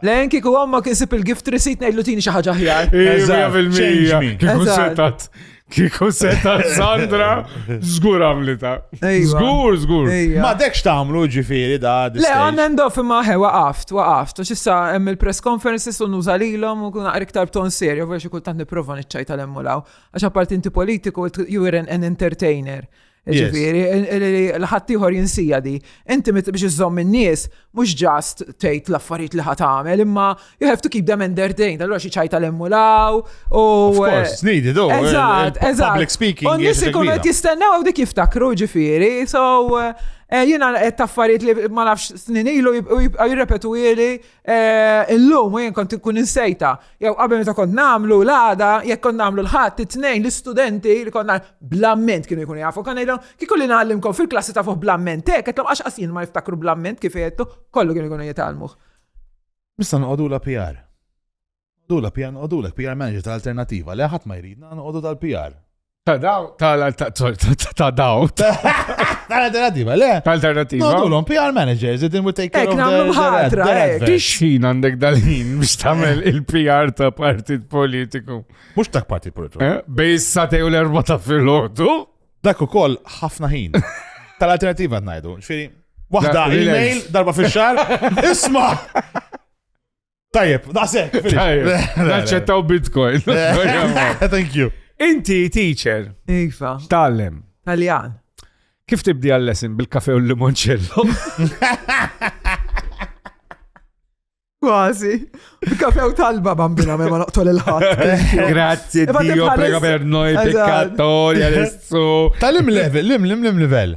Speaker 1: Lejn kieku għom ma kisib il-gift receipt ngħidlu tini xi ħaġa ħjar. Kieku setat. Kieku setat Sandra, żgur għamlita. Żgur, żgur. Ma dekx tagħmlu ġifieri da. Le għandna ndof imma ħe waqaft, waqaft. Għax issa hemm il-press conferences u nuża lilhom u kun iktar b'ton serju, vera xi kultant nipprova niċċajta l-emmulaw. Għax apparti inti politiku, you were an entertainer. Ġifiri, l-ħattijħor jinsija di. Inti biex iżżomm in-nies, mhux ġast tgħid l-affarijiet li ħat għamel, imma you have to keep them entertained. Allura xi ċajta l-emmulaw. U eh, snidi do. Eh, eżatt, eh, eżatt. Public speaking. U nies ikunu qed jistennew dik jiftakru ġifieri. So jiena qed taffariet li ma nafx snin ilu jirrepetu ili Eh, illum u jien kont inkun insejta. Jew qabel meta kont nagħmlu l-għada, jekk kont nagħmlu l-ħadd it-tnejn l-istudenti li kont nagħmlu blamment kienu jkunu jafu. Kan ngħidhom kieku li nagħallimkom fil-klassi ta' fuq blamment hekk, qed għax qasin ma jiftakru blamment kif jettu, kollu kienu jkunu jitalmuh. Nista' noqogħdu la PR. Nqogħdulha PR, nqogħdulek PR manager ta' alternattiva li ħadd ma jridna nqogħdu tal-PR. Ta' daw, ta' daw. Ta' alternattiva, le? Ta' alternattiva. Nqogħdulhom PR managers, it will take care of nagħmlu ħatra. Tixħin għandek dal-ħin biex tagħmel il-PR ta' partit politiku. Mhux ta' partit politiku. Eh, bej satej u l-erba ta' fil-ħodu. Dak ukoll ħafna ħin. Ta' l-alternattiva ngħidu. Ġifieri, waħda email darba fix-xahar, isma'. Tajjeb, daqsek. Naċċettaw bitcoin. Thank you. Inti teacher. Iva. Tallem. Taljan. Kif tibdi għall-lesson bil-kafe u l-limoncello? Kważi. Kafe u talba bambina ma noqtol il-ħat. Grazie Dio, prego per noi peccatori adesso. Tal-im level, lim, lim, lim level.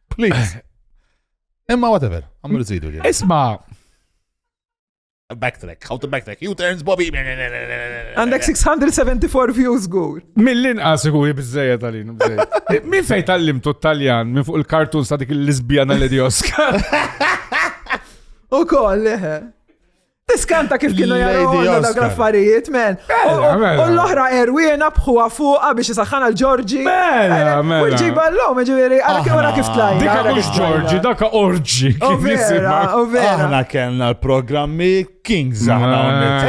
Speaker 1: Please. Imma whatever, għamlu zidu. Isma. Backtrack, how to backtrack, you turns Bobby. Għandek 674 views gur. Millin inqas ikun jibżeja tal-in. Min fej tal-lim tu taljan minn fuq il-kartun sa dik l-Lisbjana l-Edioska. U koll, leħe. Tiskanta kif kienu jaraw dak l-affarijiet, men. U l-oħra erwina bħuwa fuqa biex jisaxħan għal Ġorġi. Mela, mela. U ġiba l-lom, ġiviri, għara kif għara kif tlajna. Dika mux Ġorġi, daka Orġi. Aħna kellna l-programmi Kings aħna għonek.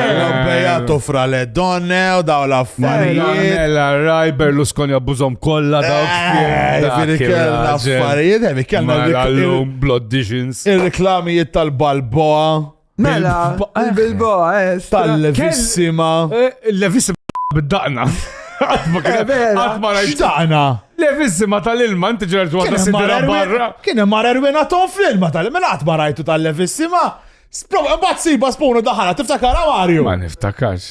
Speaker 1: Bejatu fra le donne u daw la affarijiet. Mela, raj Berlusconi abbużom kolla daw. Eh, ġiviri kellna affarijiet, ġiviri kellna l-lum, blood disions. Il-reklamijiet tal-Balboa. Mela, bil-boa, eh, eh, tal-levissima. Eh, levissima bid-daqna. Għatma rajt daqna. Levissima tal-ilma, inti ġerġ għadda sidra barra. Kien hemm mara rwina ton fl-ilma tal-ilma, mela għatma rajtu tal-levissima. Sprova, bat siba spunu daħala, tiftakara Mario? Ma niftakarx.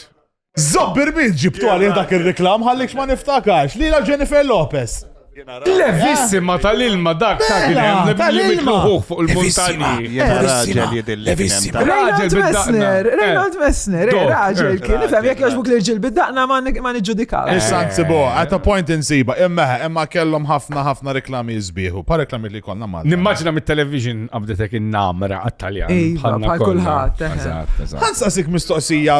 Speaker 1: Zobbir min ġibtu għalih dak ir-reklam ħallikx ma niftakax li la Jennifer Lopez. Levissima tal-ilma dak ta' kien hemm li mitluħuh fuq il-muntanji. Jena raġel jidilli. Levissima. Raġel bid-daqna. Rejnold Messner, raġel kien ifhem jekk jogħġbuk li rġil bid-daqna ma niġġudikaw. Issa nsibu, at a point insiba, imma imma kellhom ħafna ħafna reklami jisbieħu, pa reklami li konna mal. Nimmaġina mit-television qabdetek in-namra għat-Taljan. Bħal kulħadd. Ħansaqsik mistoqsija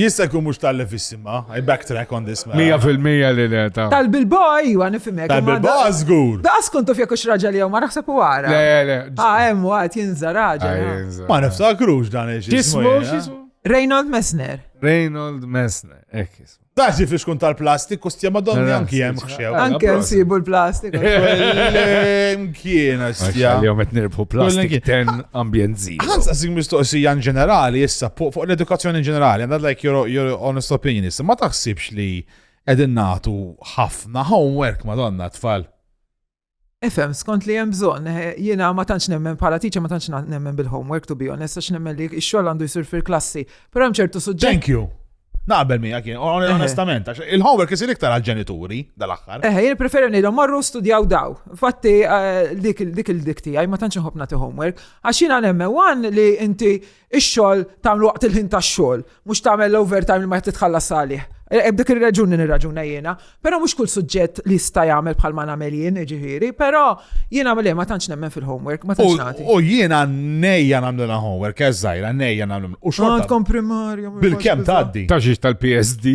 Speaker 1: Jista' jkun mhux tal levissima, I backtrack on this man. Mija fil-mija li le ta. Tal-Bilbao iwa nifimek. Tal-Bilbao żgur. Daqas kont taf jekk raġel jew ma naħseb u għara. Le, le. Ah, hemm waqt jinża raġel. Ah. Ma niftakrux dan ex. Jismu x'ismu? Reynold Messner. Reynold Messner, hekk jismu. Dax jifix kun tal-plastik u stjema donni anki hemm Anke nsibu l-plastik. Mkiena xtja. Jom qed nirbħu plastik ten ambjent zi. Ħanz għasik mistoqsija in ġenerali issa fuq l-edukazzjoni in ġenerali, għandha like your, your honest opinion issa, ma taħsibx li qegħdin nagħtu ħafna homework madonna tfal. Ifhem, skont li hemm bżonn, eh, jiena ma tantx nemmen bħala teacher ma tantx nemmen bil-homework to be honest, għax nemmen li x-xogħol għandu jsir fil-klassi. Però hemm ċertu suġġett. Thank you. Naqbel miegħek jien, eh. onestament, għax il-homework isir iktar għall-ġenituri dal-aħħar. Eh, jien preferi ngħidhom marru studjaw daw. Fatti eh, dik il-dik tiegħi ma tantx inħobb nagħti homework, għax jiena nemmen wan li inti Ix-xogħol tagħmlu waqt il-ħin tax-xogħol, mhux tagħmel l-overtime li ma titħallas għalih. E, e, b'dik ir-raġuni nirraġuna jiena, però mhux kull suġġett li jista' jagħmel bħal ma nagħmel jien, ġifieri, però jiena għamel ma tantx nemmen fil-homework, ma tantx nagħti. U jiena nejja nagħmlu homework, eżżajra, nejja nagħmlu. U xogħol. Għandkom primarju. Bil-kemm tgħaddi. Taġġiex tal-PSD.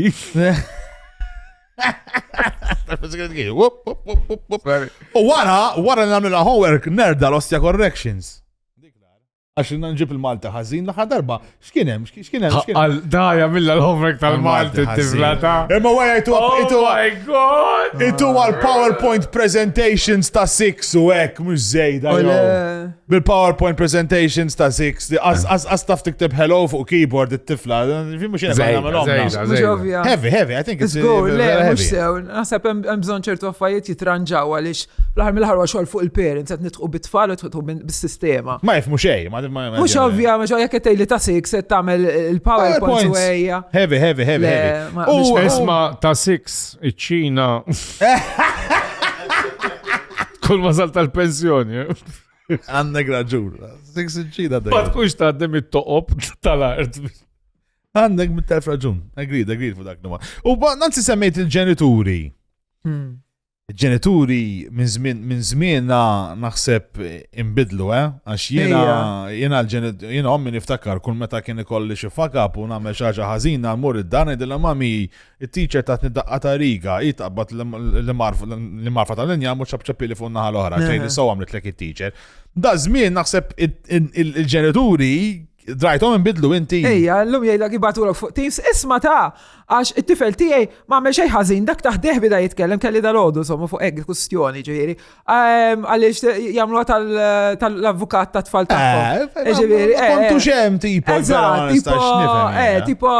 Speaker 1: U wara, wara nagħmlu homework nerda l-ostja corrections. Għax rinna nġib il-Malta ħażin l-aħħar darba. X'kien hemm? X'kien hemm? X'kien hemm? Għal daja mill homework tal-Malti tifla ta'. Imma wara jtu għapitu. Oh my god! Itu għal PowerPoint presentations ta' 6 u hekk mhux żejda. Bil-PowerPoint presentations ta' 6 għas taf tikteb hello fuq keyboard it-tifla. Fi mhux jena għamilhom. Heavy, heavy, I think it's good. Le, mhux sew. Naħseb hemm bżonn ċertu affarijiet jitranġaw għaliex l-aħħar mill-aħħar xogħol fuq il-parents qed nitqu bit-tfal bis-sistema. Ma jifmu xej, ma jifmu xej. Mux ovvja, mux ovvja ketej li ta' six se tamel il-PowerPoint u eja. Heavy, heavy, heavy, heavy. U isma ta' six, iċ-ċina. Kull ma sal tal-pensjoni. Għandek raġun. Six iċ-ċina. Ma tkunx ta' dem it-toqob tal-art. Għandek mit-telf raġun. Agreed, agreed fuq dak numa. U nanzi semmejt il-ġenituri. Hmm. ġenituri minn żmien minn żmien naħseb imbidlu, eh? Għax jiena jiena l-ġenitur jiena ommi niftakar kull meta kien ikolli xi fakab u nagħmel xi ħaġa ħażina mmur id-dar ngħidilha mami it-teacher tatni daqqa ta' riga, hi taqbad li marfa tal-linja mhux ċapċapili fuq naħa l-oħra, tgħidli sew għamlitlek it-teacher. Da żmien naħseb il-ġenituri Drajtom imbidlu inti. Ejja, l-lum jgħidlek ibatulok fuq Teams, isma ta' għax it-tifel tiegħi ma għamel xejn ħażin, dak taħdeh bida jitkellem kelli dal-għodu somma fuq hekk kustjoni ġifieri. Ehm, għaliex jagħmluha tal-avukat ta' tfal tagħhom. Eh, eh, ġifieri. Eh, kontu xem tipo, tipo, eh, tipo,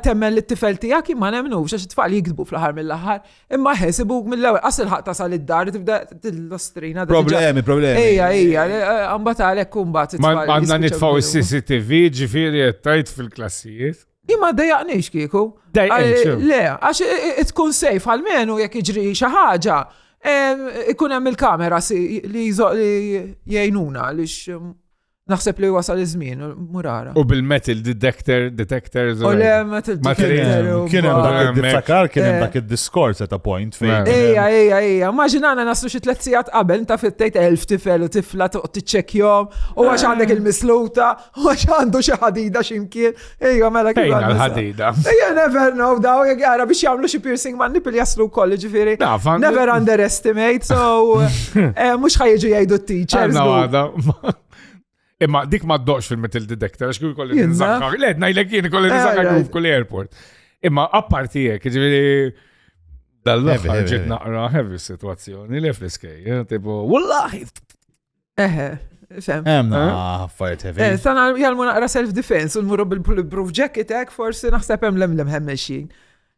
Speaker 1: temmen li t-tifel tiegħek ma nemnux għax it-tfal jikdbu fl-aħħar mill-aħħar. Imma ħe, sibuk mill-ewel, għas il-ħak tasal id-dar, tibda t-lostrina. Problemi, problemi. Ejja, ejja, għambat għalek kumbat. Ma għanna nitfaw il-CCTV ġifiri tajt fil-klassijiet. Imma dejaqnix kieku. Dejaqnix. Le, għax tkun sejf għal-menu jek iġri xaħġa. Ikun hemm il-kamera li jgħinuna għaliex Naħseb li wasal iż-żmien, murara. U bil-metal detector, detector. U le, metal detector. Kien hemm dak id-diftakar, kien hemm eh. dak id-diskors ta' point fejn. Ejja, ejja, ejja. Maġinana naslu xi tliet sigħat qabel ta' fit-tejt elf tifel u tifla toqgħod tiċċekkjom, u għax eh. għandek il-misluta, u għax għandu xi ħadida x'imkien, Ejja, mela kif. Ejja, l-ħadida. Ejja, never know, daw, għara biex jamlu xie piercing man nipil jaslu kolli ġifiri. Never underestimate, so, eh, mux ħajġu jajdu t-teachers. Imma dik ma doqx fil-metal detector, għax kull kolli nizakar. Le, najlek jien kolli nizakar eh, kull airport. Imma apparti jek, ġifiri. Dal-level ġit naqra heavy situazzjoni li fl-iskej, eh, tipo, wallahi, Eħe, fem. Hemm eh? ah, affarijiet heavy. Eh, sana jgħalmu naqra self-defense u nmurru bil-bulletproof jacket hekk forsi naħseb hemm lemlem hemmexin.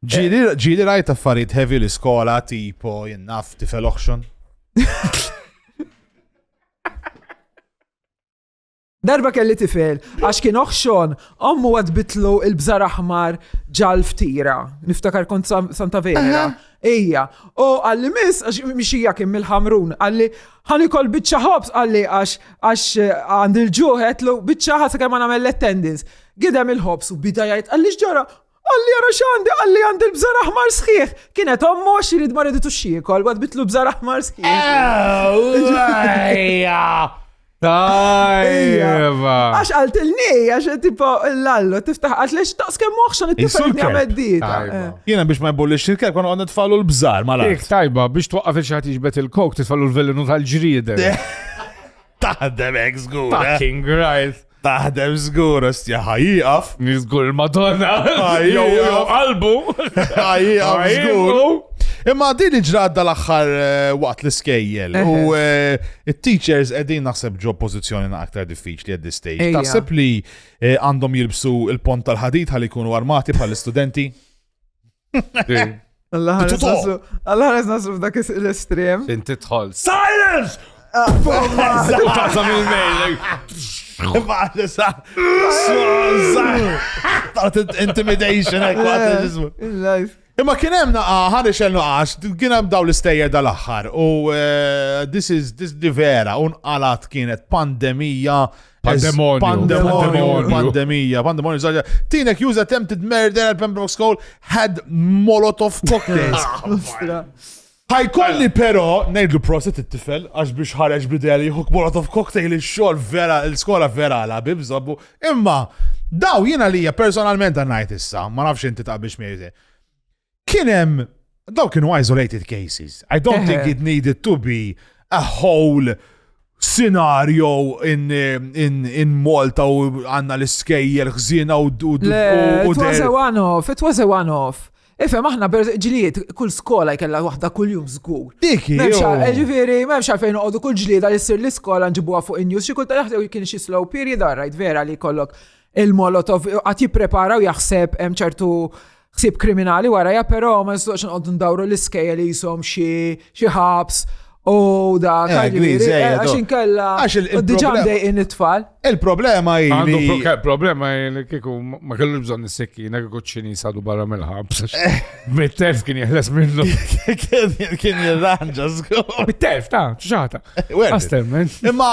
Speaker 1: Ġili rajt affarijiet heavy l-iskola tipo jinnaf tifel auction. Darba kelli tifel, għax kien oħxon, ommu għad bitlu il-bżar aħmar ġal ftira. Niftakar kont Santa Vera. Ejja. U għalli mis, għax miexija kien mill-ħamrun, għalli ħani kol bicċa ħobs, għalli għax għax eh, għand il-ġuħet lu bicċa ħasa kemm għamel l-attendance. Gidem il-ħobs u bidajajt, għalli xġara, Qalli jara xandi, qalli għandi l-bżar aħmar sħiħ. Kienet ommu għax jirid maridu tu xiekol, għad bitlu bżar aħmar sħiħ. Tajba! Għax għalt il-ni, għax tipo l-allu, tiftaħ għax lex taqs kemm moħxan it-tifel għameddita. Jena biex ma jbolli xirkel, kon għanna tfallu l-bżar, ma l Tajba, biex twaqqaf il-xaħat iġbet il-kok, tfallu l-velenu tal-ġrieden. Taħdem hekk żgur. Eh? Fucking right. Taħdem żgur ostja ħajjaqaf. Żgur il-Madonna. Ħajjaqaf qalbu. Ħajjaqaf żgur. Imma din ġrad dal-axħar eh, waqt l-iskejjel u eh, il-teachers edin naħseb ġo pozizjoni na aktar diffiċli għad stage Taħseb li għandhom jilbsu il-pont tal-ħadid ħalli jkunu armati bħal-istudenti? Għallħares nasru f'dak l-estrem. Inti tħol. Silence! Ah, Tazam il-mail. Intimidation, Imma kien hemm naqa ħan ixel naqax, kien hemm daw l-istejjer dal-aħħar u eh, this is this di vera un qalat kienet pandemija Pandemonju. Pandemonju. Pandemija. Pandemonju. Zaġa. Tinek use attempted murder at Pembroke School had Molotov cocktails. Ħajkolli però ngħidlu proset it-tifel għax biex ħareġ bidea li jħuk Molotov cocktail ix-xogħol vera l-skola vera la bib żabbu. Imma daw jiena lija personalment għannajt issa, ma nafx inti taqbix miegħi. Kien hemm daw kienu isolated cases. I don't think it needed to be a whole scenario in, in, in Malta u għanna l-iskejjer ħżina u d It was a one-off, it was a one-off. Ifem, aħna ġlijiet, kull skola jkella waħda kull jum zgur. Diki. Eh, ġifiri, memx għalfejn uqodu kull ġlijiet għal jissir l-skola nġibuha fuq in-news, xi kulta jaħdew kien xi slow period, rajt vera li kollok il-molotov għat jipprepara u jaħseb hemm ċertu ħsieb kriminali warajja, però ma nistax nqogħdu ndawru l-iskejja li jisom xi ħabs u da eh, eh, għax inkella diġà mdejqin it-tfal. Il-problema hi. Għandu problema li kieku ma kellu bżonn is-sekkina kieku ċini sadu barra mill-ħabs. Eh. Mit-telf kien jeħles minnu. Kien jirranġa żgur. Mit-telf ta' ċaċata. Imma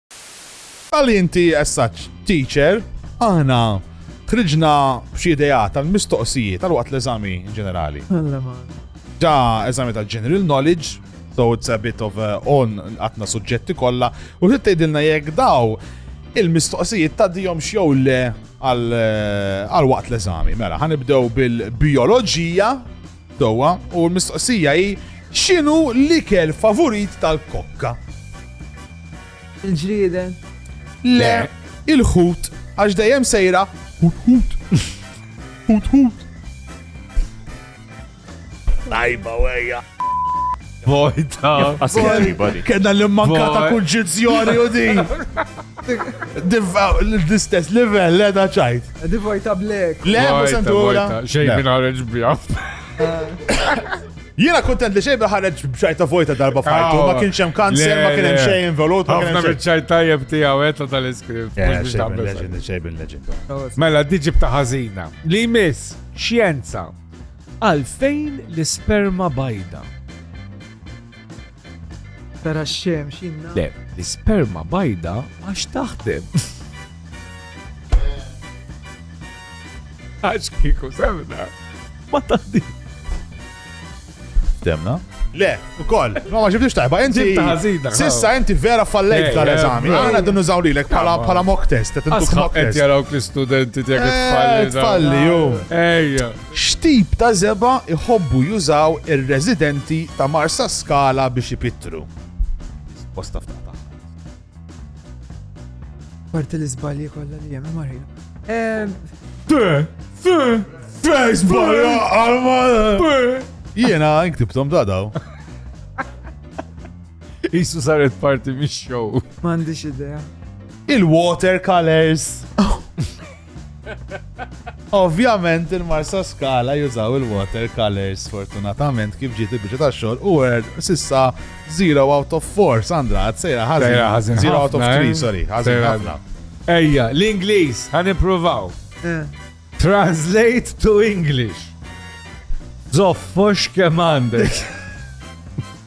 Speaker 1: Għal inti as such teacher, aħna ħriġna b'xi ideat għal mistoqsijiet għal waqt l-eżami ġenerali. Ġa eżami ta' general knowledge, so it's a bit of a on għatna suġġetti kollha, u trid tgħidilna jekk daw il-mistoqsijiet ta' dijom xew le għal waqt l-eżami. Mela, ħanibdew bil-bioloġija Dowa, u l-mistoqsija hi x'inhu l-ikel favurit tal-kokka? Il-ġrieden. Le, il-ħut, għax dejjem sejra ħut ħut. Ħut ħut. Tajba wejja. Vojta. Kena l-manka ta' kunġizzjoni u di. L-istess level, le da ċajt. Di vojta blek. Le, musentura. Xej minn ħareġ bjaf. Jiena kontent li xejn ħareġ b'ċajta vojta darba fajtu, ma kienx hemm kanser, ma kien hemm xejn involut, ma kien hemm xejn. ċajt tajjeb tiegħu qed eh, tal-iskript. Xejn legend. Mela diġi b'ta' ħażina. Li miss, xjenza. Għalfejn l-isperma bajda? Tara x-xemx inna. Le, l-isperma bajda għax taħdem. Għax kiku semna. Ma taħdi. Temna? Le, u koll, ma ma ġibtix tajba, inti. Sissa inti vera fallejt tal-eżami. Għana dun użaw li l-ek pala mock test. Għasħab għet jaraw l-studenti tijak eh, tfalli. Tfalli, ju. Ejja. X'tip ta' żebgħa jħobbu jużaw ir-residenti ta' Marsaskala biex ipittru? Risposta f'daqqa. Apparti l-iżbalji kollha li hemm, imma Jiena inktibtom ta' daw. Isu saret parti mix-show. M'għandix idea. Il-watercolors. Ovvjament il-Marsa Skala jużaw il-water colors fortunatament kif ġiet il-biċċa ta' xogħol u word sissa 0 out of 4 Sandra għad sejra ħażin. Sejra ħażin. 0 out of 3 eh? sorry ħażin ħafna. Ejja, l-Ingliż ħan ippruvaw. Eh. Translate to English. Zoffox kemm għandek.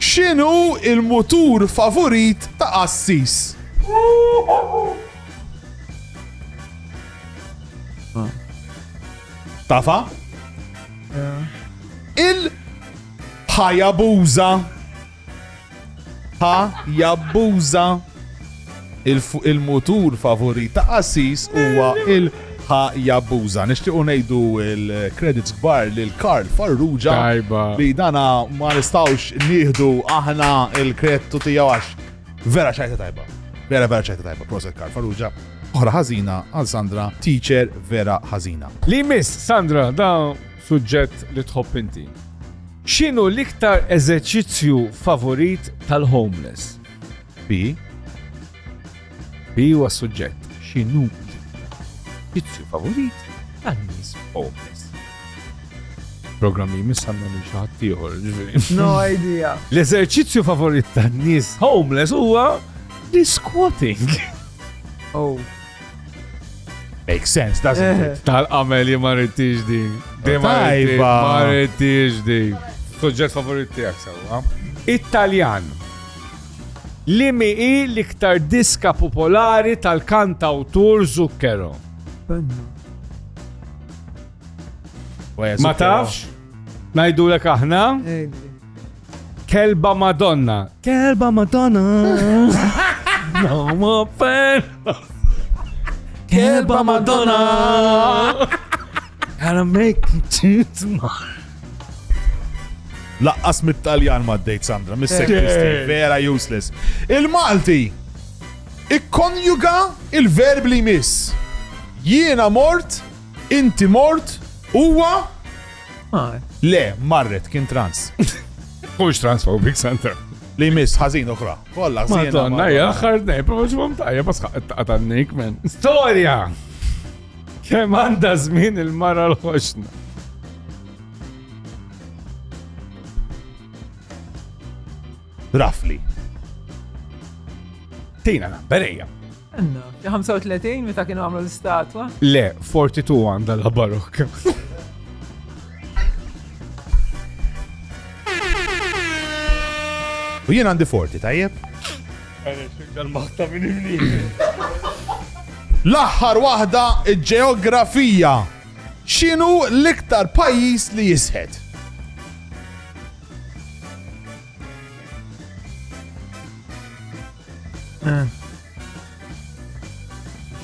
Speaker 1: X'inhu l-mutur favurit ta' qassis? Tafha? Il-Hayabusa. Hayabusa. Il-mutur favorit ta' Assis huwa il- Hayabusa. Nixtiequ ngħidu l-credits kbar lil Karl Farrugia li dana ma nistgħux nieħdu aħna l-kredtu tiegħu għax vera xajta tajba. Vera vera xajta tajba, proset Karl Farrugia. Oħra ħażina għal Sandra, teacher vera ħażina. Li miss Sandra da suġġett li tħobb inti. X'inhu l-iktar eżerċizzju favorit tal-homeless? Bi Bi huwa s-suġġett, xi nut, vizzju favorit tan-nies homeless. Programm li jmiss għandna lil xi ħadd ieħor, ġifieri. No idea. L-eżerċizzju favorit tan-nies homeless huwa li squatting. Oh. Makes sense, doesn't it? Tal-qamel li ma rridtix di. Di ma rridtix- Tajba. ma rridtix di. Suġġett favorit tiegħek sewwa. Italjan. Liemi hi l-iktar diska popolari tal-kantawtur Zucchero? Ma tafx? Ngħidulek aħna? Kelba Madonna. Kelba Madonna. No more pain. Kelba Madonna. Għana mek Laqqas mit-Taljan ma d-dejt Sandra, mis vera useless. Il-Malti ikkonjuga il-verb li miss. Jiena mort, inti mort, huwa Le, marret, kien trans. Mux transphobic, Sandra. Li miss, ħazin uħra. Kolla, ħazin. Madonna, jaxħar nej, pero ġumam tajja, bas ħaqqa tannik, men. Storja! Kemm għandha żmien il-mara l-ħoxna? Rafli. Tina na, berejja. Għanna, 35 meta kienu għamlu l-statwa? Le, 42 għanda la barok. U jien għandi 40, tajjeb? L-aħħar waħda, il-ġeografija. X'inhu l-iktar pajjiż li jisħet? Eh.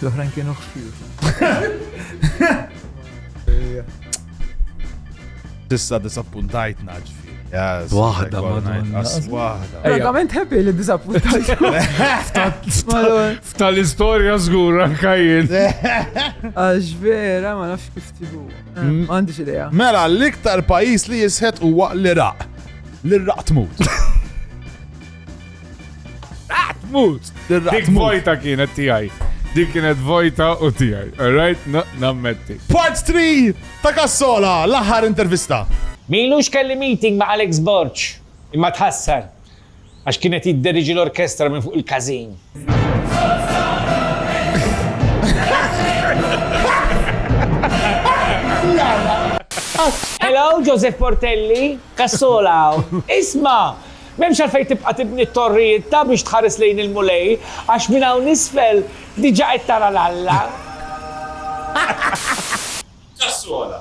Speaker 1: L-oħrajn kienu xfir. Tista disappuntajtna Waħda, waħda. Verament happy li disappuntajt. Ftal istoria zgur anka jien. Għax vera ma nafx kif tibu. Mm. Għandix idea. Mela, l-iktar pajis li jisħet huwa l-Iraq. L-Iraq tmut. Iraq tmut. Dik vojta kienet tijaj. Dik kienet vojta u tijaj. Alright, nammetti. Part 3! Ta' Cassola, l-aħħar intervista. M'ilux kelli meeting ma' Alex Borg, imma tħassar għax kien qed jidderiġi l-orkestra minn fuq il-każin. Hello, Joseph Portelli, Cassola hawn. Isma'! M'hemmx għalfejn tibqa' tibni t-torrijiet ta' biex tħares lejn il-Mulej, għax minn hawn isfel diġà qed tara 'l Alla. Kassola.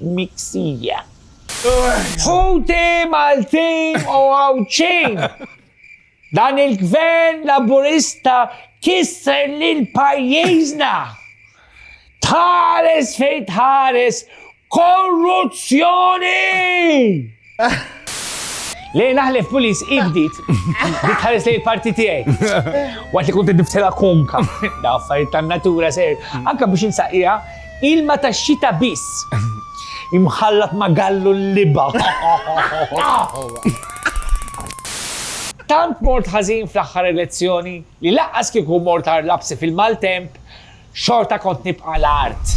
Speaker 1: miksija. Ħuti Maltin u Għawdxin! Dan il-Gvern Laburista kisser lil pajjiżna! Tħares fejn tħares korruzzjoni! Lejn naħlef pulis ibdit, dik ħares lejn parti tiegħi. Waqt li kont niftilha konka, da affarijiet tan-natura ser, anke biex insaqija ilma tax-xita biss. Imħallat ma' gallu l-liba. Tant mort ħażin fl-aħħar elezzjoni li laqqas kieku mort għar lapsi fil-maltemp, xorta kont nibqa' l-art.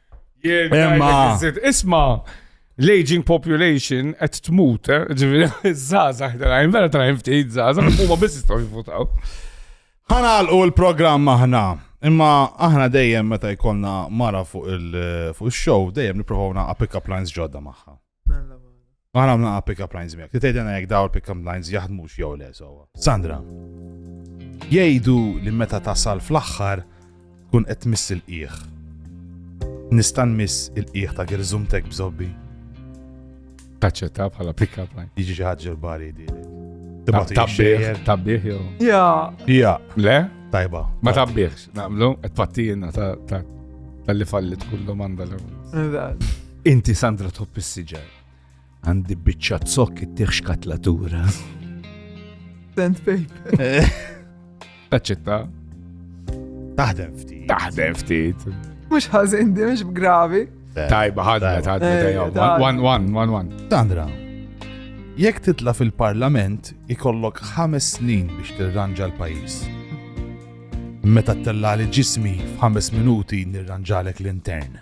Speaker 1: Imma. Isma, l-aging population qed tmut, eh? ġifieri żgħażagħ tarajn, vera tarajn ftit żgħażagħ, huma biss jistgħu jivvutaw. Ħanalqu l-programm aħna. Imma aħna dejjem meta jkollna mara fuq il-show, dejjem nipprovaw naqa' pick up lines ġodda magħha. Ma għamna għab pick-up lines miegħek. Titejdena jekk daw il-pick-up lines jaħdmux jew le sewwa. Sandra, jgħidu li meta tasal fl-aħħar kun qed miss il-qiegħ. Nista' miss il-qiegħ ta' girżumtek bżobbi. Taċċetta bħala pick-up line. Jiġi xi ħaġa l-bari di. Tabbieħ, tabbieħ jew. Ja. Ja. Le? Tajba. Ma tabbieħx, naqblu, qed pattina ta' tal-li fallit kullu manda l Inti Sandra tħobb is-siġar. Għandi biċċa zokk ittieħ xkatlatura. Sand paper. Taċċetta. Taħdem ftit. Taħdem ftit. Mux ħazin di, mux gravi. Tajba, ħadna, ħadna, eh, tajba. One, one, one, one. Sandra, jekk titla fil-parlament ikollok ħames snin biex tirranġa l-pajis. Meta t-tellali ġismi f'ħames minuti nirranġalek l-intern.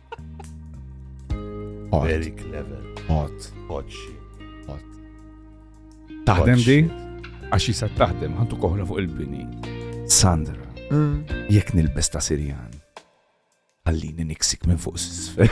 Speaker 1: Very clever. Hot. Hot shit. Hot. Taħdem di? Għax jisa taħdem, għandu koħra fuq il-bini. Sandra, mm. jek nilbes ta' Sirjan, għallini niksik minn fuq s-sfel.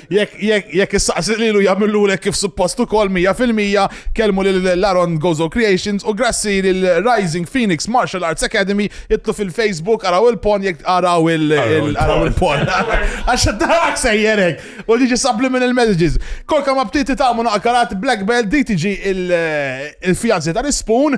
Speaker 1: Jekk issaqsi lilu jagħmilulek kif suppost ukoll mija fil-mija, kellmu lil Laron Gozo Creations u grassi lil Rising Phoenix Martial Arts Academy idħlu fil-Facebook araw il-pon jekk araw il-pon. Għax id-dahak sejjer hekk u liġi subliminal messages. Kolka ma bdiet tagħmu naqkarat Black Belt DTG il-fianzi tal-ispun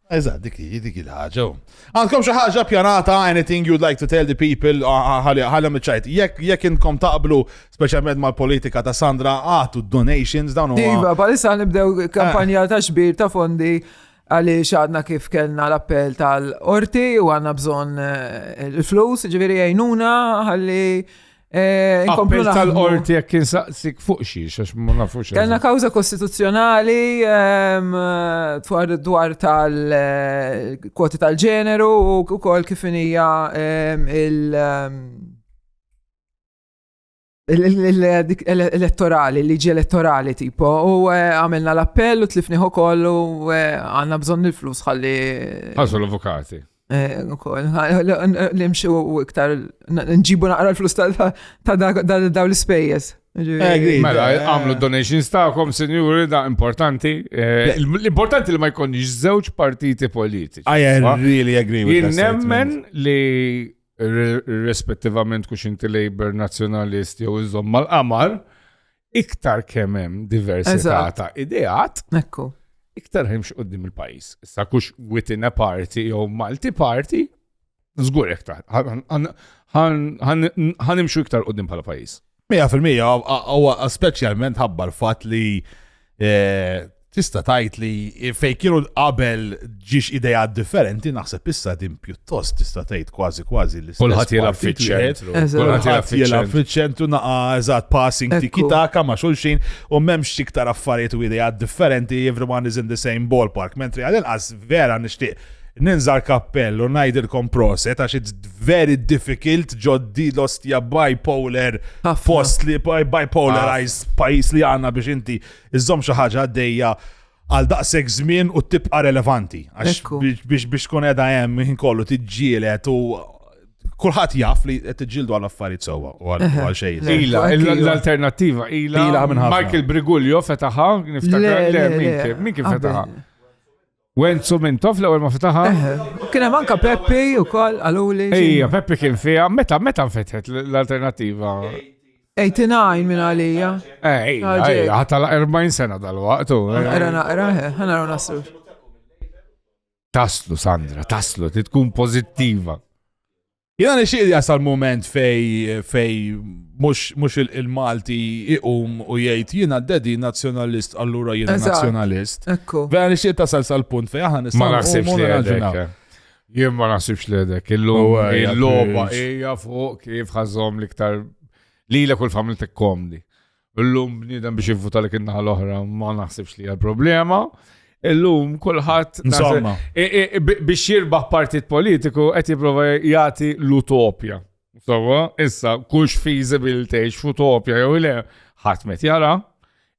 Speaker 1: Eżatt, dik hi, dik il-ħaġa. Għandkom xi ħaġa pjanata, anything you'd like to tell the people, ħalja miċċajt. Jekk jekk inkom taqblu, speċjalment mal-politika ta' Sandra, għatu donations dawn huma. Iva, palissa nibdew kampanja ta' xbir ta' fondi għaliex għadna kif kellna l-appell tal-orti u għanna bżon eh, il-flus, ġviri għajnuna, għalli Eh, Appell tal-qorti jekk kien saqsik fuq xi għax ma nafux. Kellna kawża kostituzzjonali ehm, dwar tal-kwoti eh, tal-ġeneru u wkoll kif hija ehm, il- ehm, l-elettorali, liġi elettorali tipo, u eh, għamilna l-appell u tlifniħu kollu għanna bżon il-flus ħalli. Għazu l-avukati. Eh, ukoll, nimxu iktar, nġibu naqra l-flus ta' daw l-ispejjeż. Eh, mela, eh. għamlu donations ta'kom, senjuri, da' importanti. L-importanti li ma jkunx żewġ partiti politiċi. I really agree with that. Nemmen li rispettivament kux inti Labour, Nazjonalist jew iżom mal-qamar, iktar kemm hemm diversità ta' ideat, Ekku. iktar hemmx qoddim il-pajis. Issa kux within a party jew multi party, żgur iktar. Ħan imxu iktar qoddim bħala pajis. 100% huwa speċjalment ħabbar fatt li eh, tista' tgħid li fejn kienu qabel ġiex idea differenti naħseb issa din pjuttost tista' tgħid kważi kważi li kulħadd jilgħab fiċ-ċentru. Kulħadd jilgħab fiċ-ċentru naqa' eżatt passing tikitaka ma' xulxin u m'hemmx iktar affarijiet u idea differenti everyone is in the same ballpark. Mentri għal inqas vera nixtieq ninżar kappell u ngħidilkom proset għax it's very difficult ġoddi l-ostja bipolar fost li bipolarized pajis li għanna biex inti Iżżomm xi ħaġa għaddejja għal daqshekk żmien u tibqa' relevanti. Biex biex tkun qiegħda hemm ħin kollu tiġġielet u kulħadd jaf li qed tiġġieldu għal affarijiet sewwa u għal xejn. Ila, l-alternattiva ila Michael Brigulio fetaħa, niftakar le min kif fetaħa. Wenzu Mintoff l-ewwel ma fetaħa. Kien hemm anka Peppi wkoll għaluli. Ejja, Peppi kien fiha, meta meta nfetħet l-alternattiva? 89 minn għalija. Ej, ħata la 40 sena dal-waqt. Era naqra, ħana raw nasru. Taslu, Sandra, taslu, ti tkun pozittiva. Jena nixtieq li jasal moment fej fej mhux il-Malti iqum u jgħid jiena d-dedi nazzjonalist allura jiena nazzjonalist. Ekku. Vera nixtieq tasal sal-punt fej aħna nistgħu. Ma naħsibx li għadek. Jien ma naħsibx li għadek. Il-logħba hija fuq kif ħażhom l-iktar lilek u l-familtek komdi. Illum bniedem biex jivvuta li kinna l-oħra ma naħsibx li għal-problema. Illum kulħadd biex jirbaħ partit politiku qed jipprova jagħti l-utopja. Sawa, issa kux feasible tgħix f'utopja jew le ħadd met jara,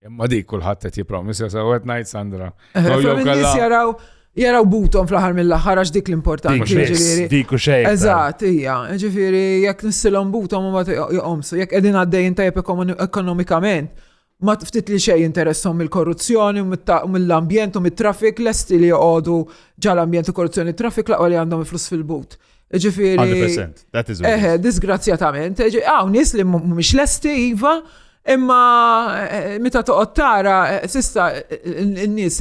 Speaker 1: imma dik kulħadd qed jippromisja sew qed ngħid Sandra. Jew jaraw jaraw butom fl-aħħar mill-aħħar għax dik l-importanti. Ġifieri. Dik u xejn. Eżatt, hija. Ġifieri jekk nissilhom butom u ma joqomsu, jekk qegħdin għaddejjin tajjeb ekonomikament, ma ftit li xejn interessom mill-korruzzjoni, mill-ambjent u mit-traffic, lesti li joqogħdu ġal-ambjent u korruzzjoni traffic laqgħu li għandhom il-flus fil-but. Ġifieri. 100%. That is Eħe, eh, disgrazzjatament. Hawn nies li mhumiex lesti iva, imma eh, meta toqgħod tara eh, sista n-nies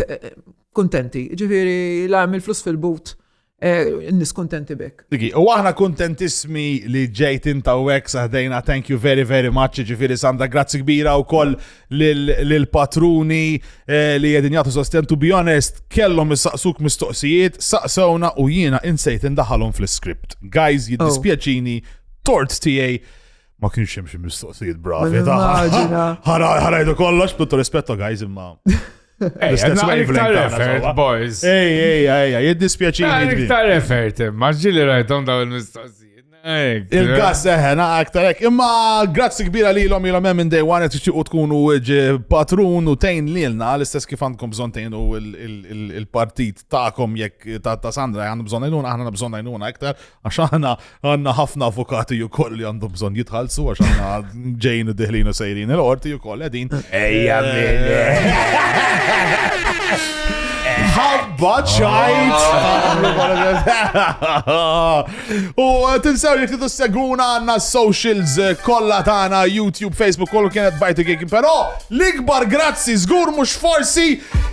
Speaker 1: Kuntenti, ġifieri la hemm il-flus fil-but eh, n-nies kuntenti bek. Digi, u aħna kuntentissmi li ġejt inta u hekk saħdejna, thank you very very much, ġifieri Sandra, grazzi kbira wkoll lil- lill-patruni eh, li qegħdin jagħtu sosten to be honest, kellhom issaqsuk mistoqsijiet, saqsewna u jiena insejt indaħalhom fl-iskript. Guys, jiddispjaċini, tort tiegħi ma kienx hemm xi mistoqsijiet bravi. Ma ta' nimmaġina. Ħarajdu kollox, b'tuttu rispetto guys imma Ej, L-istess naqra wavelength iktar tagħna effort, sewwa. boys. Ej, ej, ej, ej, jiddispjaċini. Naqra kbir. iktar effort, imma ġili rajtom daw il-mistoqsijiet. Ej, Il-gas eħen, aktar hekk. Imma grazzi kbira li l-om jilom minn day one, qed u tkunu ġi patrun u tejn lilna, l-istess kif għandkom bżon tejnu il- il- il- il-partit ta'kom jekk ta' ta' Sandra għandu bżon għajnuna, aħna għandna bżon għajnuna aktar, Għax aħna għanna ħafna avukati u koll li għandhom bżon jitħalsu għax aħna ġejn diħlin u sejrin il-qorti u koll għedin. Ejja Ħabba ċajt! U tinsew li tidu seguna għanna socials kolla tana, YouTube, Facebook, kollu kienet bajtu għikin, pero l-ikbar grazzi zgur mux forsi